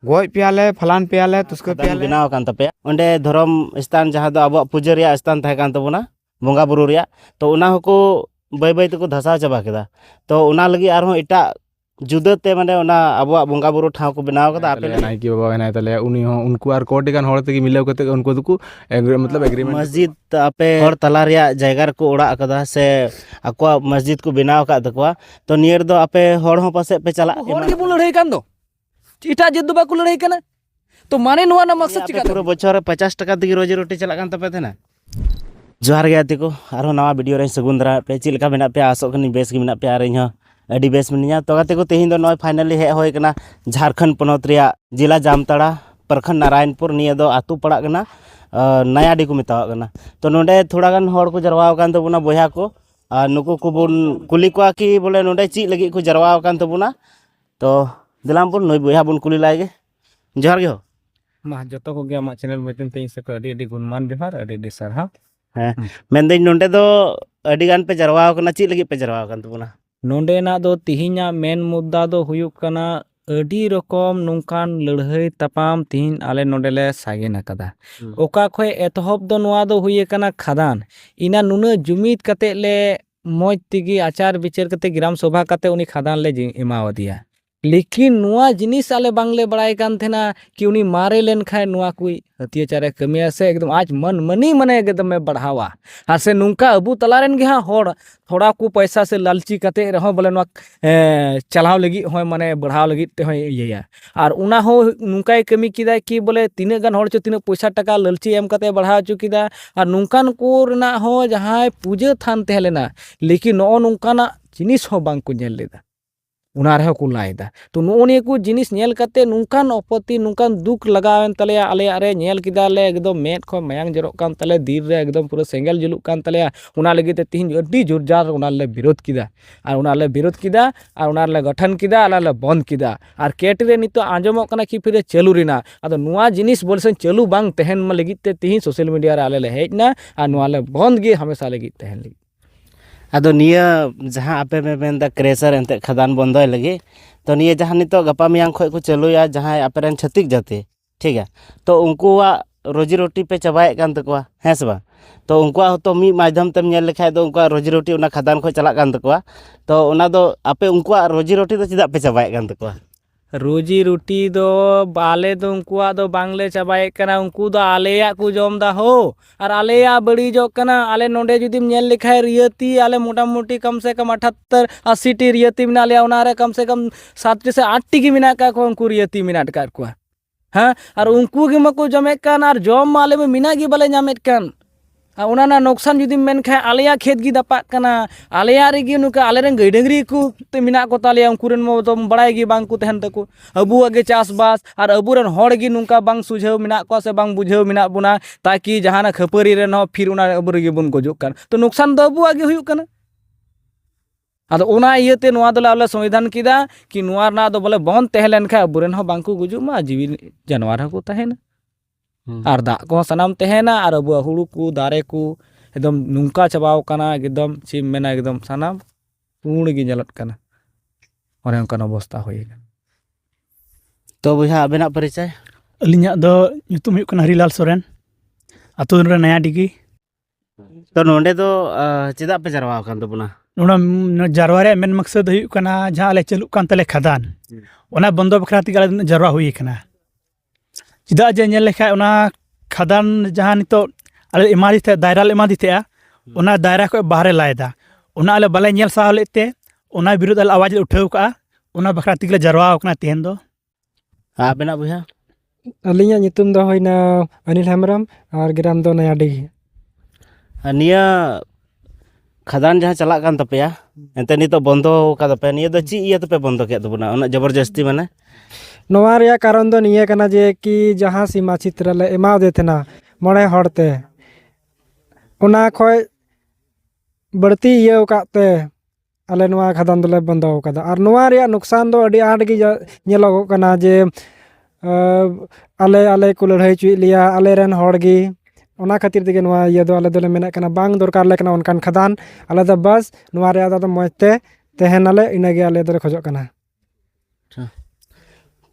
ᱜᱚᱡ ᱯᱮᱭᱟᱞᱮ ᱯᱷᱟᱞᱟᱱ ᱯᱮᱭᱟᱞᱮ ᱛᱩᱥᱠᱟᱹ ᱥᱟᱫᱟᱢ ᱯᱮᱭᱟᱞᱮ ᱵᱮᱱᱟᱣ ᱟᱠᱟᱱ ᱛᱟᱯᱮᱭᱟ ᱚᱸᱰᱮ ᱫᱷᱚᱨᱚᱢ ᱥᱛᱷᱟᱱ ᱡᱟᱦᱟᱸ ᱫᱚ ᱟᱵᱚᱣᱟᱜ ᱯᱩᱡᱟᱹ ᱨᱮᱭᱟᱜ ᱥᱛᱷᱟᱱ ᱛᱟᱦᱮᱸ ᱠᱟᱱ ᱛᱟᱵᱚᱱᱟ ᱵᱚᱸᱜᱟ ᱵᱩᱨᱩ ᱨᱮᱭᱟᱜ ᱛᱚ ᱚᱱᱟ ᱦᱚᱸᱠᱚ ᱵᱟᱹᱭ ᱵᱟᱹᱭ ᱛᱮᱠᱚ ᱫᱷᱟᱥᱟᱣ ᱪᱟᱵᱟ ᱠᱮᱫᱟ ᱛᱚ ᱚᱱᱟ ᱞᱟᱹᱜᱤᱫ ᱟᱨᱦᱚᱸ ᱮᱴᱟᱜ ᱡᱩᱫᱟᱹᱛᱮ ᱢᱟᱱᱮ ᱚᱱᱟ ᱟᱵᱚᱣᱟᱜ ᱵᱚᱸᱜᱟ ᱵᱩᱨᱩ ᱴᱷᱟᱶ ᱠᱚ ᱵᱮᱱᱟᱣ ᱠᱟᱫᱟ ᱟᱯᱮ ᱞᱟᱹᱜᱤᱫ ᱱᱟᱭᱠᱮ ᱵᱟᱵᱟ ᱦᱮᱱᱟᱭ ᱛᱟᱞᱮᱭᱟ ᱩᱱᱤ ᱦᱚᱸ ᱩᱱᱠᱩ ᱟᱨ ᱠᱚᱴᱤ ᱜᱟᱱ ᱦᱚᱲ ᱛᱮᱜᱮ ᱢᱤᱞᱟᱹᱣ ᱠᱟᱛᱮ ᱩᱱᱠᱩ ᱫᱚᱠᱚ ᱮᱜᱽᱨᱤ ᱢᱚᱛᱞᱚᱵ ᱮᱜᱽᱨᱤᱢᱮᱱᱴ ᱢᱚᱥᱡᱤᱫ ᱟᱯᱮ ᱦᱚᱲ ᱛᱟᱞᱟ ᱨᱮᱭᱟᱜ ᱡᱟᱭᱜᱟ ᱨᱮᱠᱚ ᱚᱲᱟᱜ ᱟᱠᱟᱫᱟ ᱥᱮ ᱟᱠᱚᱣᱟᱜ ᱢᱚᱥᱡᱤᱫ ᱠᱚ ᱵᱮᱱᱟᱣ ᱟᱠᱟᱫ ᱛᱟᱠᱚᱣᱟ ᱛᱚ ᱱᱤᱭᱟᱹ ᱨᱮᱫᱚ ᱟᱯᱮ ᱦᱚᱲ ᱦᱚᱸ ᱯᱟᱥᱮᱡ ᱯᱮ ᱪᱟᱞᱟᱜ ᱦᱚᱲ ᱜᱮᱵᱚᱱ ᱞᱟᱹᱲᱦᱟᱹᱭ ᱠᱟᱱ ᱫᱚ ᱮᱴᱟᱜ ᱡᱟᱹᱛ ᱫᱚ ᱵᱟᱠᱚ ᱞᱟᱹᱲᱦᱟᱹᱭ ᱠᱟᱱᱟ ᱛᱚ ᱢᱟᱱᱮ ᱱᱚᱣᱟ ᱨᱮᱱᱟᱜ ᱢᱟᱠᱥᱟᱫ ᱪᱮᱠᱟ ᱯᱩᱨᱟᱹ ᱵᱚᱪᱷᱚᱨ ᱨᱮ ᱯᱚᱪᱟᱥ ᱴᱟᱠᱟ ᱛᱮᱜᱮ ᱨᱳᱡᱤ ᱨᱩᱴᱤ ᱪᱟᱞᱟᱜ ᱠᱟᱱ ᱛᱟᱯᱮ ᱛᱟᱦᱮᱱᱟ ᱡᱚᱦᱟᱨ ᱜᱮ ᱜᱟᱛᱮ ᱠᱚ ᱟᱨᱦᱚᱸ ᱱᱟᱣᱟ ᱵᱷᱤᱰᱤᱭᱳ ᱨᱮ ᱥᱟᱹᱜᱩᱱ ᱫᱟᱨᱟ ᱯᱮ ᱪᱮᱫ ᱞᱮᱠᱟ ᱢᱮᱱᱟᱜ ᱯᱮᱭᱟ ᱟᱥᱚᱜ ᱠᱟᱹᱱᱟᱹᱧ ᱵᱮᱥ ᱜᱮ ᱢᱮᱱᱟᱜ ᱯᱮᱭᱟ ᱟᱨ ᱤᱧᱦᱚᱸ ᱟᱹᱰᱤ ᱵᱮᱥ ᱢᱤᱱᱟᱹᱧᱟ ᱛᱚ ᱜᱟᱛᱮ ᱠᱚ ᱛᱮᱦᱮᱧ ᱫᱚ ᱱᱚᱜᱼᱚᱭ ᱯᱷᱟᱭᱱᱟᱞᱤ ᱦᱮᱡ ᱦᱩᱭ ᱠᱟᱱᱟ ᱡᱷᱟᱲᱠᱷᱚᱸᱰ ᱯᱚᱱᱚᱛ ᱨᱮᱭᱟᱜ ᱡᱮᱞᱟ ᱡᱟᱢᱛᱟᱲᱟ ᱯᱨᱚᱠᱷᱚᱸᱰ ᱱᱟᱨᱟᱭᱚᱱᱯᱩᱨ ᱱᱤᱭᱟᱹ ᱫᱚ ᱟᱛᱳ ᱯᱟᱲᱟᱜ ᱠᱟᱱᱟ ᱱᱟᱭᱟᱰᱤ ᱠᱚ ᱢᱮᱛᱟᱣᱟᱜ ᱠᱟᱱᱟ ᱛᱚ ᱱᱚᱰᱮ ᱛᱷᱚᱲᱟ ᱜᱟᱱ ᱦᱚᱲ ᱠᱚ ᱡᱟᱨᱣᱟ ᱟᱠᱟᱱ ᱛᱟᱵᱚᱱᱟ ᱵᱚᱭᱦᱟ ᱠᱚ ᱟᱨ ᱱᱩᱠᱩ ᱠᱚᱵᱚᱱ ᱠᱩᱞᱤ ᱠᱚᱣᱟ ᱠᱤ ᱵᱚᱞᱮ ᱱᱚᱰᱮ ᱪᱮᱫ ᱞᱟᱹᱜᱤᱫ ᱠᱚ ᱡᱟᱨᱣᱟ ᱟᱠᱟᱱ ᱛᱟᱵᱚᱱᱟ ᱛᱚ ᱫᱮᱞᱟᱢ ᱵᱚᱱ ᱱᱩᱭ ᱵᱚᱭᱦᱟ ᱵᱚᱱ ᱠᱩᱞᱤ ᱞᱟᱭ ᱜᱮ ᱡᱚᱦᱟᱨ ᱜᱮ ᱦᱳ ᱢᱟ ᱡᱚᱛᱚ ᱠᱚᱜᱮ ᱟᱢᱟᱜ ᱪᱮᱱᱮᱞ ᱢᱟᱫᱽᱫᱷᱚᱢ ᱛᱮ ᱤᱧ ᱥᱮᱫ ᱠᱷᱚᱱ ᱟᱹᱰᱤ ᱟᱹᱰᱤ ᱜᱩᱱᱢᱟᱱ ᱡᱚᱦᱟᱨ ᱟᱹᱰᱤ ᱟᱹᱰᱤ ᱥᱟᱨᱦᱟᱣ ᱦᱮᱸ ᱢᱮᱱᱫᱟᱹᱧ ᱱᱚᱸᱰᱮ ᱫᱚ ᱟᱹᱰᱤ ᱜᱟᱱ ᱯᱮ ᱡᱟᱨᱣᱟ ᱟᱠᱟᱱᱟ ᱪᱮᱫ ᱞᱟᱹᱜᱤᱫ ᱯᱮ ᱡᱟᱨᱣᱟ ᱟᱠᱟᱱ ᱛᱟᱵᱚᱱᱟ ᱱᱚᱸᱰᱮᱱᱟᱜ ᱫᱚ ᱛᱤᱦᱤᱧᱟᱜ ᱢᱮᱱ ᱢᱩᱫᱽᱫᱟ ᱫᱚ ᱦᱩᱭᱩᱜ ᱠᱟᱱᱟ ᱟᱹᱰᱤ ᱨᱚᱠᱚᱢ ᱱᱚᱝᱠᱟᱱ ᱞᱟᱹᱲᱦᱟᱹᱭ ᱛᱟᱯᱟᱢ ᱛᱤᱦᱤᱧ ᱟᱞᱮ ᱱᱚᱸᱰᱮ ᱞᱮ ᱥᱟᱜᱮᱱ ᱟᱠᱟᱫᱟ ᱚᱠᱟ ᱠᱷᱚᱱ ᱮᱛᱚᱦᱚᱵ ᱫᱚ ᱱᱚᱣᱟ ᱫᱚ ᱦᱩᱭ ᱟᱠᱟᱱᱟ ᱠᱷᱟᱫᱟᱱ ᱤᱱᱟᱹ ᱱᱩᱱᱟᱹᱜ ᱡᱩᱢᱤᱫ ᱠᱟᱛᱮᱫ ᱞᱮ ᱢᱚᱡᱽ ᱛᱮᱜᱮ ᱟᱪᱟᱨ ᱵᱤᱪᱟᱹᱨ ᱠᱟᱛᱮ ᱜᱨᱟᱢ ᱥᱚᱵᱷᱟ ᱠᱟᱛᱮ ᱩᱱᱤ ᱠᱷᱟᱫᱟᱱ ᱞᱮ ᱮᱢᱟᱣᱟᱫᱮᱭᱟ ᱞᱮᱠᱤᱱ ᱱᱚᱣᱟ ᱡᱤᱱᱤᱥ ᱟᱞᱮ ᱵᱟᱝᱞᱮ ᱵᱟᱲᱟᱭ ᱠᱟᱱ ᱛᱟᱦᱮᱱᱟ ᱠᱤ ᱩᱱᱤ ᱢᱟᱨᱮ ᱞᱮᱱᱠᱷᱟᱱ ᱱᱚᱣᱟ ᱠᱚ ᱦᱟᱹᱛᱭᱟᱹᱪᱟᱨᱮ ᱠᱟᱹᱢᱤᱭᱟ ᱥᱮ ᱮᱠᱫᱚᱢ ᱟᱡ ᱢᱟᱹᱱ ᱢᱟᱹᱱᱤ ᱢᱟᱱᱮ ᱮᱠᱫᱚᱢᱮ ᱵᱟᱲᱦᱟᱣᱟ ᱟᱨ ᱥᱮ ᱱᱚᱝᱠᱟ ᱟᱵᱚ ᱛᱟᱞᱟᱨᱮᱱ ᱜᱮ ᱦᱟᱸᱜ ᱦᱚᱲ ᱛᱷᱚᱲᱟ ᱠᱚ ᱯᱚᱭᱥᱟ ᱥᱮ ᱞᱟᱞᱪᱤ ᱠᱟᱛᱮ ᱨᱮᱦᱚᱸ ᱵᱚᱞᱮ ᱱᱚᱣᱟ ᱪᱟᱞᱟᱣ ᱞᱟᱹᱜᱤᱫ ᱦᱚᱸ ᱢᱟᱱᱮ ᱵᱟᱲᱦᱟᱣ ᱞᱟᱹᱜᱤᱫ ᱛᱮᱦᱚᱸᱭ ᱤᱭᱟᱹᱭᱟ ᱟᱨ ᱚᱱᱟ ᱦᱚᱸ ᱱᱚᱝᱠᱟᱭ ᱠᱟᱹᱢᱤ ᱠᱮᱫᱟᱭ ᱠᱤ ᱵᱚᱞᱮ ᱛᱤᱱᱟᱹᱜ ᱜᱟᱱ ᱦᱚᱲ ᱪᱚ ᱛᱤᱱᱟᱹᱜ ᱯᱚᱭᱥᱟ ᱴᱟᱠᱟ ᱞᱟᱹᱞᱪᱤ ᱮᱢ ᱠᱟᱛᱮ ᱵᱟᱲᱦᱟᱣ ᱦᱚᱪᱚ ᱠᱮᱫᱟ ᱟᱨ ᱱᱚᱝᱠᱟᱱ ᱠᱚ ᱨᱮᱱᱟᱜ ᱦᱚᱸ ᱡᱟᱦᱟᱸᱭ ᱯᱩᱡᱟᱹ ᱛᱷᱟᱱ ᱛᱟᱦᱮᱸ ᱞᱮᱱᱟ ᱞᱮᱠᱤᱱ ᱱᱚᱜᱼᱚ ᱱᱚᱝᱠᱟᱱᱟᱜ ᱡᱤᱱᱤᱥ ᱦᱚᱸ ᱵᱟᱝ ᱠᱚ ᱧᱮᱞ ᱞᱮᱫᱟ ᱚᱱᱟ ᱨᱮᱦᱚᱸ ᱠᱚ ᱞᱟᱭᱫᱟ ᱛᱚ ᱱᱚᱜᱼᱚ ᱱᱤᱭᱟᱹ ᱠᱚ ᱡᱤᱱᱤᱥ ᱧᱮᱞ ᱠᱟᱛᱮ ᱱᱚᱝᱠᱟᱱ ᱟᱯᱚᱛᱛᱤ ᱱᱚᱝᱠᱟᱱ ᱫᱩᱠ ᱞᱟᱜᱟᱣᱮᱱ ᱛᱟᱞᱮᱭᱟ ᱟᱞᱮᱭᱟᱜ ᱨᱮ ᱧᱮᱞ ᱠᱮᱫᱟᱞᱮ ᱮᱠᱫᱚᱢ ᱢᱮᱫ ᱠᱷᱚᱱ ᱢᱟᱭᱟᱝ ᱡᱚᱨᱚᱜ ᱠᱟᱱ ᱛᱟᱞᱮᱭᱟ ᱫᱤᱞ ᱨᱮ ᱮᱠᱫᱚᱢ ᱯᱩᱨᱟᱹ ᱥᱮᱸᱜᱮᱞ ᱡᱩᱞᱩᱜ ᱠᱟᱱ ᱛᱟᱞᱮᱭᱟ ᱚᱱᱟ ᱞᱟᱹᱜᱤᱫ ᱛᱮ ᱛᱤᱦᱤᱧ ᱟᱹᱰᱤ ᱡᱳᱨ ᱡᱟᱨ ᱚᱱᱟ ᱞᱮ ᱵᱤᱨᱳᱫᱷ ᱠᱮᱫᱟ ᱟᱨ ᱚᱱᱟ ᱞᱮ ᱵᱤᱨᱳᱫᱷ ᱠᱮᱫᱟ ᱟᱨ ᱚᱱᱟ ᱞᱮ ᱜᱚᱴᱷᱚᱱ ᱠᱮᱫᱟ ᱟᱨ ᱚᱱᱟ ᱞᱮ ᱵᱚᱱᱫᱷ ᱠᱮᱫᱟ ᱟᱨ ᱠᱮᱴ ᱨᱮ ᱱᱤᱛᱚᱜ ᱟᱸᱡᱚᱢᱚᱜ ᱠᱟᱱᱟ ᱠᱤ ᱯᱷᱤᱨᱮ ᱪᱟᱹᱞᱩ ᱨᱮᱱᱟᱜ ᱟᱫᱚ ᱱᱚᱣᱟ ᱡᱤᱱᱤᱥ ᱵᱚᱞᱮ ᱥᱮ ᱪᱟᱹᱞᱩ ᱵᱟᱝ ᱛᱟᱦᱮᱱ ᱢᱟ ᱞᱟᱹᱜᱤᱫ ᱛᱮ ᱛᱤᱦᱤᱧ ᱥᱳᱥᱟᱞ ᱢᱤᱰᱤᱭᱟ ᱨᱮ ᱟᱞᱮ ᱞᱮ ᱦᱮᱡ ᱮᱱᱟ ᱟᱨ ᱱᱚᱣᱟ ᱞᱮ ᱵᱚᱱᱫᱷ ᱜᱮ ᱦᱟᱢᱮᱥᱟ ᱞᱟᱹᱜᱤᱫ ᱛᱟᱦᱮᱱ ᱞᱟᱹᱜᱤᱫ ᱟᱫᱚ ᱱᱤᱭᱟᱹ ᱡᱟᱦᱟᱸ ᱟᱯᱮ ᱯᱮ ᱢᱮᱱᱫᱟ ᱠᱨᱮᱥᱟᱨ ᱮᱱᱛᱮᱫ ᱠᱷᱟᱫᱟᱱ ᱵᱚᱱᱫᱚᱭ ᱞᱟᱹᱜᱤᱫ ᱛᱚ ᱱᱤᱭᱟᱹ ᱡᱟᱦᱟᱸ ᱱᱤᱛᱚᱜ ᱜᱟᱯᱟ ᱢᱮᱭᱟᱝ ᱠᱷᱚᱱ ᱠᱚ ᱪᱟᱹᱞᱩᱭᱟ ᱡᱟᱦᱟᱸᱭ ᱟᱯᱮ ᱨᱮᱱ ᱪᱷᱟᱹᱛᱤᱠ ᱡᱟᱹᱛᱤ ᱴᱷᱤᱠ ᱜᱮᱭᱟ ᱛᱚ ᱩᱱᱠᱩᱣᱟᱜ ᱨᱩᱡᱤ ᱨᱩᱴᱤ ᱯᱮ ᱪᱟᱵᱟᱭᱮᱫ ᱠᱟᱱ ᱛᱟᱠᱚᱣᱟ ᱦᱮᱸ ᱥᱮ ᱵᱟᱝ ᱛᱚ ᱩᱱᱠᱩᱣᱟᱜ ᱦᱚᱸᱛᱚ ᱢᱤᱫ ᱢᱟᱫᱽᱫᱷᱚᱢ ᱛᱮᱢ ᱧᱮᱞ ᱞᱮᱠᱷᱟᱡ ᱫᱚ ᱩᱱᱠᱩᱣᱟᱜ ᱨᱩᱡᱤ ᱨᱩᱴᱤ ᱚᱱᱟ ᱠᱷᱟᱫᱟᱱ ᱠᱷᱚᱡ ᱪᱟᱞᱟᱜ ᱠᱟᱱ ᱛᱟᱠᱚᱣᱟ ᱛᱚ ᱚᱱᱟ ᱫᱚ ᱟᱯᱮ ᱩᱱᱠᱩᱣᱟᱜ ᱨᱩᱡᱤ ᱨᱩᱴᱤ ᱫᱚ ᱪᱮᱫᱟᱜ ᱯᱮ ᱪᱟᱵᱟᱭᱮᱫ ᱠᱟᱱ ᱛᱟᱠᱚᱣᱟ ᱨᱩᱡᱤ ᱨᱩᱴᱤ ᱫᱚ ᱟᱞᱮ ᱫᱚ ᱩᱱᱠᱩᱣᱟᱜ ᱫᱚ ᱵᱟᱝᱞᱮ ᱪᱟᱵᱟᱭᱮᱫ ᱠᱟᱱᱟ ᱩᱱᱠᱩ ᱫᱚ ᱟᱞᱮᱭᱟᱜ ᱠᱚ ᱡᱚᱢᱫᱟ ᱦᱳ ᱟᱨ ᱟᱞᱮᱭᱟᱜ ᱵᱟᱹᱲᱤᱡᱚᱜ ᱠᱟᱱᱟ ᱟᱞᱮ ᱱᱚᱸᱰᱮ ᱡᱩᱫᱤᱢ ᱧᱮᱞ ᱞᱮᱠᱷᱟᱡ ᱨᱤᱭᱟᱹᱛᱤ ᱟᱞᱮ ᱢᱚᱴᱟᱢᱩᱴᱤ ᱠᱚᱢ ᱥᱮ ᱠᱚᱢ ᱟᱴᱷᱟᱛᱛᱚᱨ ᱟᱥᱤᱴᱤ ᱨᱤᱭᱟᱹᱛᱤ ᱢᱮᱱᱟᱜ ᱞᱮᱭᱟ ᱚᱱᱟ ᱨᱮ ᱠᱚᱢ ᱥᱮ ᱠᱚᱢ ᱥᱟᱛᱴᱤ ᱥᱮ ᱟᱴᱴᱤ ᱜᱮ ᱢᱮᱱᱟᱜ ᱠᱟᱜ ᱠᱚᱣᱟ ᱩᱱᱠᱩ ᱨᱤᱭᱟᱹᱛᱤ ᱢᱮᱱᱟᱜ ᱠᱟᱜ ᱠᱚᱣᱟ ᱦᱮᱸ ᱟᱨ ᱩᱱᱠᱩ ᱜᱮ ᱢᱟᱠᱚ ᱡᱚᱢᱮᱫ ᱠᱟᱱ ᱟᱨ ᱡᱚᱢ ᱢᱟ ᱟᱞᱮ ᱢᱟ ᱢᱮᱱᱟᱜ ᱜᱮ ᱵᱟᱞᱮ ᱧᱟᱢᱮᱫ ᱠᱟᱱ ᱟᱨ ᱚᱱᱟ ᱨᱮᱱᱟᱜ ᱞᱚᱠᱥᱟᱱ ᱡᱩᱫᱤᱢ ᱢᱮᱱ ᱠᱷᱟᱡ ᱟᱞᱮᱭᱟᱜ ᱠᱷᱮᱛ ᱜᱮ ᱫᱟᱯᱟᱜ ᱠᱟᱱᱟ ᱟᱞᱮᱭᱟᱜ ᱨᱮᱜᱮ ᱱᱚᱝᱠᱟ ᱟᱞᱮ ᱨᱮᱱ ᱜᱟᱹᱭ ᱰᱟᱹᱝᱨᱤ ᱠᱚ ᱢᱮᱱᱟᱜ ᱠᱚᱛᱟ ᱞᱮᱭᱟ ᱩᱱᱠᱩ ᱨᱮᱱ ᱢᱟᱛᱚᱢ ᱵᱟᱲᱟᱭ ᱜᱮ ᱵᱟᱝ ᱠᱚ ᱛᱟᱦᱮᱱ ᱛᱟᱠᱚ ᱟᱵᱚᱣᱟᱜ ᱜᱮ ᱪᱟᱥᱵᱟᱥ ᱟᱨ ᱟᱵᱚᱨᱮᱱ ᱦᱚᱲ ᱜᱮ ᱱᱚᱝᱠᱟ ᱵᱟᱝ ᱥᱩᱡᱷᱟᱹᱣ ᱢᱮᱱᱟᱜ ᱠᱚᱣᱟ ᱥᱮ ᱵᱟᱝ ᱵᱩᱡᱷᱟᱹᱣ ᱢᱮᱱᱟᱜ ᱵᱚᱱᱟ ᱛᱟᱠᱤ ᱡᱟᱦᱟᱱᱟᱜ ᱠᱷᱟᱹᱯᱟᱹᱨᱤ ᱨᱮᱱ ᱦᱚᱸ ᱯᱷᱤᱨ ᱚᱱᱟ ᱟᱵᱚ ᱨᱮᱜᱮ ᱵᱚᱱ ᱜᱚᱡᱚᱜ ᱠᱟᱱ ᱛᱚ ᱱᱩᱠᱥᱟᱱ ᱫᱚ ᱟᱵᱚᱣᱟᱜ ᱜᱮ ᱦᱩᱭᱩᱜ ᱠᱟᱱᱟ ᱟᱫᱚ ᱚᱱᱟ ᱤᱭᱟᱹᱛᱮ ᱱᱚᱣᱟ ᱫᱚᱞᱮ ᱟᱞᱮ ᱥᱚᱝᱵᱤᱫᱷᱟᱱ ᱠᱮᱫᱟ ᱠᱤ ᱱᱚᱣᱟ ᱨᱮᱱᱟᱜ ᱫᱚ ᱵᱚᱞᱮ ᱵᱚᱱ ᱛᱟᱦᱮᱸ ᱞᱮᱱᱠᱷᱟᱱ ᱟᱵᱚᱨᱮᱱ ᱦᱚᱸ ᱵᱟᱝᱠᱚ ᱜᱩᱡᱩᱜ ᱢᱟ ᱡᱤᱣᱤ ᱡᱟᱱᱣᱟᱨ ᱦᱚᱸᱠᱚ ᱛᱟᱦᱮᱱᱟ ᱟᱨ ᱫᱟᱜ ᱠᱚᱦᱚᱸ ᱥᱟᱱᱟᱢ ᱛᱟᱦᱮᱱᱟ ᱟᱨ ᱟᱵᱚᱣᱟᱜ ᱦᱩᱲᱩ ᱠᱚ ᱫᱟᱨᱮ ᱠᱚ ᱮᱠᱫᱚᱢ ᱱᱚᱝᱠᱟ ᱪᱟᱵᱟᱣ ᱠᱟᱱᱟ ᱮᱠᱫᱚᱢ ᱪᱮᱫ ᱮᱢ ᱢᱮᱱᱟ ᱮᱠᱫᱚᱢ ᱥᱟᱱᱟᱢ ᱯᱩᱬ ᱜᱮ ᱧᱮᱞᱚᱜ ᱠᱟᱱᱟ ᱚᱱᱮ ᱚᱱᱠᱟᱱ ᱚᱵᱚᱥᱛᱟ ᱦᱩᱭ ᱟᱠᱟᱱᱟ ᱛᱚ ᱵᱚᱭᱦᱟ ᱟᱵᱮᱱᱟᱜ ᱯᱚᱨᱤᱪᱚᱭ ᱟᱹᱞᱤᱧᱟᱜ ᱫᱚ ᱧᱩᱛᱩᱢ ᱦᱩᱭᱩᱜ ᱠᱟᱱᱟ ᱦᱚᱨᱤᱞᱟᱞ ᱥᱚᱨᱮᱱ ᱟᱛᱳ ᱨᱮ ᱱᱟᱭᱟ ᱰᱤᱜᱤ ᱛᱚ ᱱᱚᱰᱮ ᱫᱚ ᱟᱸ, ᱪᱮᱫᱟᱜ ᱯᱮ ᱡᱟᱨᱣᱟ ᱟᱠᱟᱱ ᱛᱟᱵᱚᱱᱟ ᱱᱚᱰᱮ ᱱᱚᱣᱟ ᱡᱟᱨᱣᱟ ᱨᱮᱭᱟᱜ ᱢᱮᱱ ᱢᱟᱠᱥᱚᱫ ᱫᱚ ᱦᱩᱭᱩᱜ ᱠᱟᱱᱟ ᱡᱟᱦᱟᱸ ᱟᱞᱮ ᱪᱟᱹᱞᱩᱜ ᱠᱟᱱ ᱛᱟᱞᱮ ᱠᱷᱟᱫᱟᱱ ᱚᱱᱟ ᱵᱚᱱᱫᱚ ᱵᱟᱠᱷᱨᱟ ᱛᱮᱜᱮ ᱟᱞᱮ ᱫᱚ ᱡᱟᱨᱣᱟ ᱦᱩᱭ ᱟᱠᱟᱱᱟ ᱪᱮᱫᱟᱜ ᱡᱮ ᱧᱮᱞ ᱞᱮᱠᱷᱟᱡ ᱚᱱᱟ ᱠᱷᱟᱫᱟᱱ ᱡᱟᱦᱟᱸ ᱱᱤᱛᱚᱜ ᱟᱞᱮ ᱮᱢᱟᱫᱮ ᱛᱟᱦᱮᱸᱫ ᱫᱟᱭᱨᱟ ᱞᱮ ᱮᱢᱟᱫᱮ ᱛᱟᱦᱮᱸᱜᱼᱟ ᱚᱱᱟ ᱫᱟᱭᱨᱟ ᱠᱷᱚᱡ ᱵᱟᱦᱨᱮ ᱞᱟᱭᱮᱫᱟ ᱚᱱᱟ ᱟᱞᱮ ᱵᱟᱞᱮ ᱧᱮᱞ ᱥᱟᱦᱟᱣ ᱞᱮᱫ ᱛᱮ ᱚᱱᱟ ᱵᱤᱨᱩᱫᱽ ᱟᱞᱮ ᱟᱣᱟᱡᱽ ᱞᱮ ᱩᱴᱷᱟᱹᱣ ᱠᱟᱜᱼᱟ ᱚᱱᱟ ᱵᱟᱠᱷᱨᱟ ᱛᱮᱜᱮ ᱞᱮ ᱡᱟᱨᱣᱟ ᱟᱠᱟᱱᱟ ᱛᱮᱦᱮᱧ ᱫᱚ ᱟᱵᱮᱱᱟᱜ ᱵᱚᱭᱦᱟ ᱟᱹᱞᱤᱧᱟᱜ ᱧᱩᱛᱩᱢ ᱫᱚ ᱦᱩᱭᱱᱟ ᱚᱱᱤᱞ ᱦᱮᱢᱵᱨᱚᱢ ᱟᱨ ᱜᱨᱟᱢ ᱫᱚ ᱱᱚᱭᱟᱰᱤ ᱟᱨ ᱱᱤᱭᱟᱹ ᱠᱷᱟᱫᱟᱱ ᱡᱟᱦᱟᱸ ᱪᱟᱞᱟᱜ ᱠᱟᱱ ᱛᱟᱯᱮᱭᱟ ᱮᱱᱛᱮ ᱱᱤᱛᱚᱜ ᱵᱚᱱᱫᱚ ᱠᱟᱫᱟᱯᱮ ᱱᱤᱭᱟᱹ ᱫᱚ ᱪᱮᱫ ᱤᱭᱟᱹ ᱛᱮᱯᱮ ᱵᱚᱱᱫᱚ ᱠᱮᱫ ᱛᱟᱵᱚᱱᱟ ᱩᱱᱟᱹᱜ ᱡᱚᱵᱚᱨᱡᱚᱥᱛᱤ ᱢᱟᱱᱮ ᱱᱚᱣᱟ ᱨᱮᱭᱟᱜ ᱠᱟᱨᱚᱱ ᱫᱚ ᱱᱤᱭᱟᱹ ᱠᱟᱱᱟ ᱡᱮ ᱠᱤ ᱡᱟᱦᱟᱸ ᱥᱤᱢᱟ ᱪᱤᱛᱨᱟ ᱞᱮ ᱮᱢᱟᱣᱫᱮ ᱛᱟᱦᱮᱱᱟ ᱢᱚᱬᱮ ᱦᱚᱲᱛᱮ ᱚᱱᱟ ᱠᱷᱚᱡ ᱵᱟᱹᱲᱛᱤ ᱤᱭᱟᱹᱣ ᱠᱟᱜ ᱛᱮ ᱟᱞᱮ ᱱᱚᱣᱟ ᱠᱷᱟᱫᱟᱱ ᱫᱚᱞᱮ ᱵᱚᱱᱫᱚ ᱟᱠᱟᱫᱟ ᱟᱨ ᱱᱚᱣᱟ ᱨᱮᱭᱟᱜ ᱞᱚᱠᱥᱟᱱ ᱫᱚ ᱟᱹᱰᱤ ᱟᱸᱴ ᱜᱮ ᱧᱮᱞᱚᱜᱚᱜ ᱠᱟᱱᱟ ᱡᱮ ᱟᱞᱮ ᱟᱞᱮ ᱠᱚ ᱞᱟᱹᱲᱦᱟᱹᱭ ᱦᱚᱪᱚᱭᱮᱫ ᱞᱮᱭᱟ ᱟᱞᱮ ᱨᱮᱱ ᱦᱚᱲ ᱜᱮ ᱚᱱᱟ ᱠᱷᱟᱹᱛᱤᱨ ᱛᱮᱜᱮ ᱱᱚᱣᱟ ᱤᱭᱟᱹ ᱫᱚ ᱟᱞᱮ ᱫᱚᱞᱮ ᱢᱮᱱᱮᱫ ᱠᱟᱱᱟ ᱵᱟᱝ ᱫᱚᱨᱠᱟᱨ ᱟᱞᱮ ᱠᱟᱱᱟ ᱚᱱᱠᱟᱱ ᱠᱷᱟᱫᱟᱱ ᱟᱞᱮ ᱫᱚ ᱵᱟᱥ ᱱᱚᱣᱟ ᱨᱮᱭᱟᱜ ᱫᱚ ᱢᱚᱡᱽ ᱛᱮ ᱛᱟᱦᱮᱱᱟᱞᱮ ᱤᱱᱟᱹᱜᱮ ᱟᱞᱮ ᱫᱚᱞᱮ ᱠᱷᱚᱡᱚᱜ ᱠᱟᱱᱟ